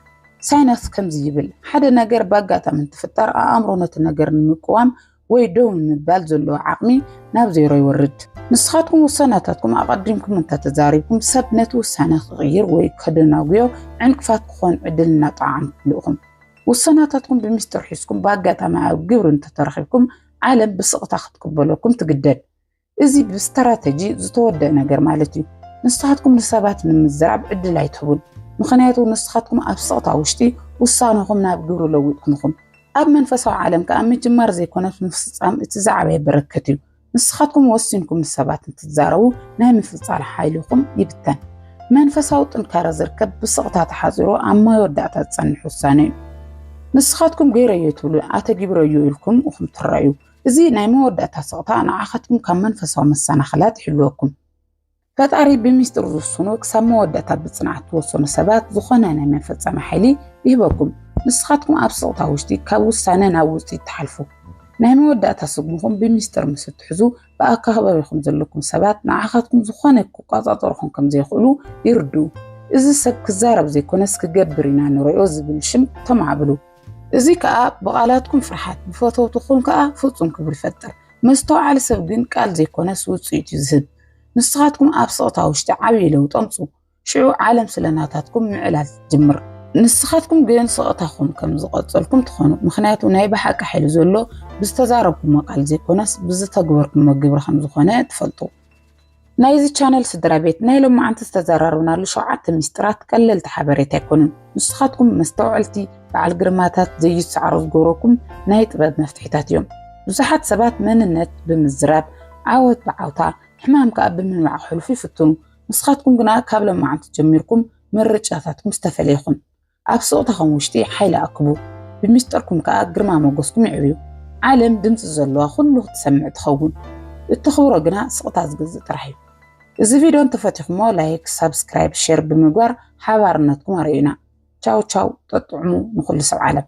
ሳይናስ ከምዚ ይብል፣ ሓደ ነገር ብኣጋጣሚ እንትፍጠር ኣእምሮ ነቲ ነገር ንምቅዋም ወይ ደው ንምባል ዘለዎ ዓቕሚ ናብ ዜሮ ይወርድ። ንስኻትኩም ውሳናታትኩም ኣቐዲምኩም እንተተዛሪብኩም ሰብ ነቲ ውሳነ ክቕይር ወይ ከደናጉዮ ዕንቅፋት ክኾን ዕድል እናጠዓምኩሉ ኢኹም። ውሳናታትኩም ብሚስጥር ሒዝኩም ብኣጋጣሚ ኣብ ግብሪ እንተተረኺብኩም ዓለም ብስቕታ ክትቅበለኩም ትግደድ። እዚ ብስትራተጂ ዝተወደእ ነገር ማለት እዩ። ንስኻትኩም ንሰባት ንምዝራብ ዕድል ኣይትህቡን፣ ምኽንያቱ ንስኻትኩም ኣብ ስቕታ ውሽጢ ውሳነኹም ናብ ግብሪ ለዊጥኩም ኢኹም። ኣብ መንፈሳዊ ዓለም ከኣ ምጅማር ዘይኮነስ ምፍጻም እቲ ዝዓበየ በረከት እዩ። ንስኻትኩም ወሲንኩም ንሰባት እንትትዛረቡ ናይ ምፍጻል ሓይልኹም ይብተን። መንፈሳዊ ጥንካረ ዝርከብ ብስቕታ ተሓጺሩ ኣብ መወዳእታ ዝጸንሕ ውሳነ እዩ። ንስኻትኩም ገይረዮ ትብሉ ኣተጊብረዮ ኢልኩም ኢኹም ትረኣዩ። እዚ ናይ መወዳእታ ስቕታ ንዓኻትኩም ካብ መንፈሳዊ መሰናኽላት ይሕልወኩም። ፈጣሪ ብሚስጢር ዝውስኖ ክሳብ መወዳእታ ብጽንዓት ትወሰኑ ሰባት ዝኾነ ናይ መፈጸሚ ሓይሊ ይህበኩም። ንስኻትኩም ኣብ ስቕታ ውሽጢ ካብ ውሳነ ናብ ውጽኢት ትሓልፉ። ናይ መወዳእታ ስጉምኹም ብሚስጢር ምስ እትሕዙ ብኣከባቢኹም ዘለኩም ሰባት ንዓኻትኩም ዝኾነ ክቆጻጸሩኹም ከም ዘይኽእሉ ይርድኡ። እዚ ሰብ ክዛረብ ዘይኮነስ ክገብር ኢና ንሪኦ ዝብል ሽም ተማዕብሉ። እዚ ከኣ ብቓላትኩም ፍርሓት ብፈተውትኹም ከኣ ፍጹም ክብሪ ይፈጥር። መስተውዓሊ ሰብ ግን ቃል ዘይኮነስ ውጽኢት እዩ ዝህብ። ንስኻትኩም ኣብ ስቕታ ውሽጢ ዓብዪ ለውጢ ኣምጽኡ፣ ሽዑ ዓለም ስለ ናታትኩም ምዕላል ትጅምር። ንስኻትኩም ግን ስቕታኹም ከም ዝቐጸልኩም ትኾኑ፣ ምኽንያቱ ናይ ብሓቂ ሓይሊ ዘሎ ብዝተዛረብኩሞ ቃል ዘይኮነስ ብዝተግበርኩሞ ግብሪ ከም ዝኾነ ትፈልጡ። ናይዚ ቻነል ስድራ ቤት ናይ ሎማዓንቲ ዝተዘራረብናሉ ሸውዓተ ሚስጥራት ቀለልቲ ሓበሬታ ኣይኮኑን። ንስኻትኩም መስተውዐልቲ በዓል ግርማታት ዘይትሰዓሩ ዝገብረኩም ናይ ጥበብ መፍትሒታት እዮም። ብዙሓት ሰባት መንነት ብምዝራብ ዓወት ብዓውታ ሕማም ከዓ ብምንባዕ ክሕልፉ ይፍትኑ። ንስኻትኩም ግና ካብ ሎማዓንቲ ጀሚርኩም ምርጫታትኩም ዝተፈለየ ይኹን። ኣብ ስቕታኹም ውሽጢ ሓይሊ ኣክቡ፣ ብሚስጥርኩም ከኣ ግርማ ሞገስኩም የዕብዩ። ዓለም ድምጺ ዘሎዋ ኩሉ ክትሰምዕ ትኸውን። እተኽብሮ ግና ስቕታ ዝግዝእ ጥራሕ እዩ። እዚ ቪድዮ እንተፈቲኹሞ ላይክ፣ ሳብስክራይብ፣ ሼር ብምግባር ሓባርነትኩም ኣርእዩና። ቻው ቻው ጠጥዑሙ ንኹሉ ሰብ ዓለም።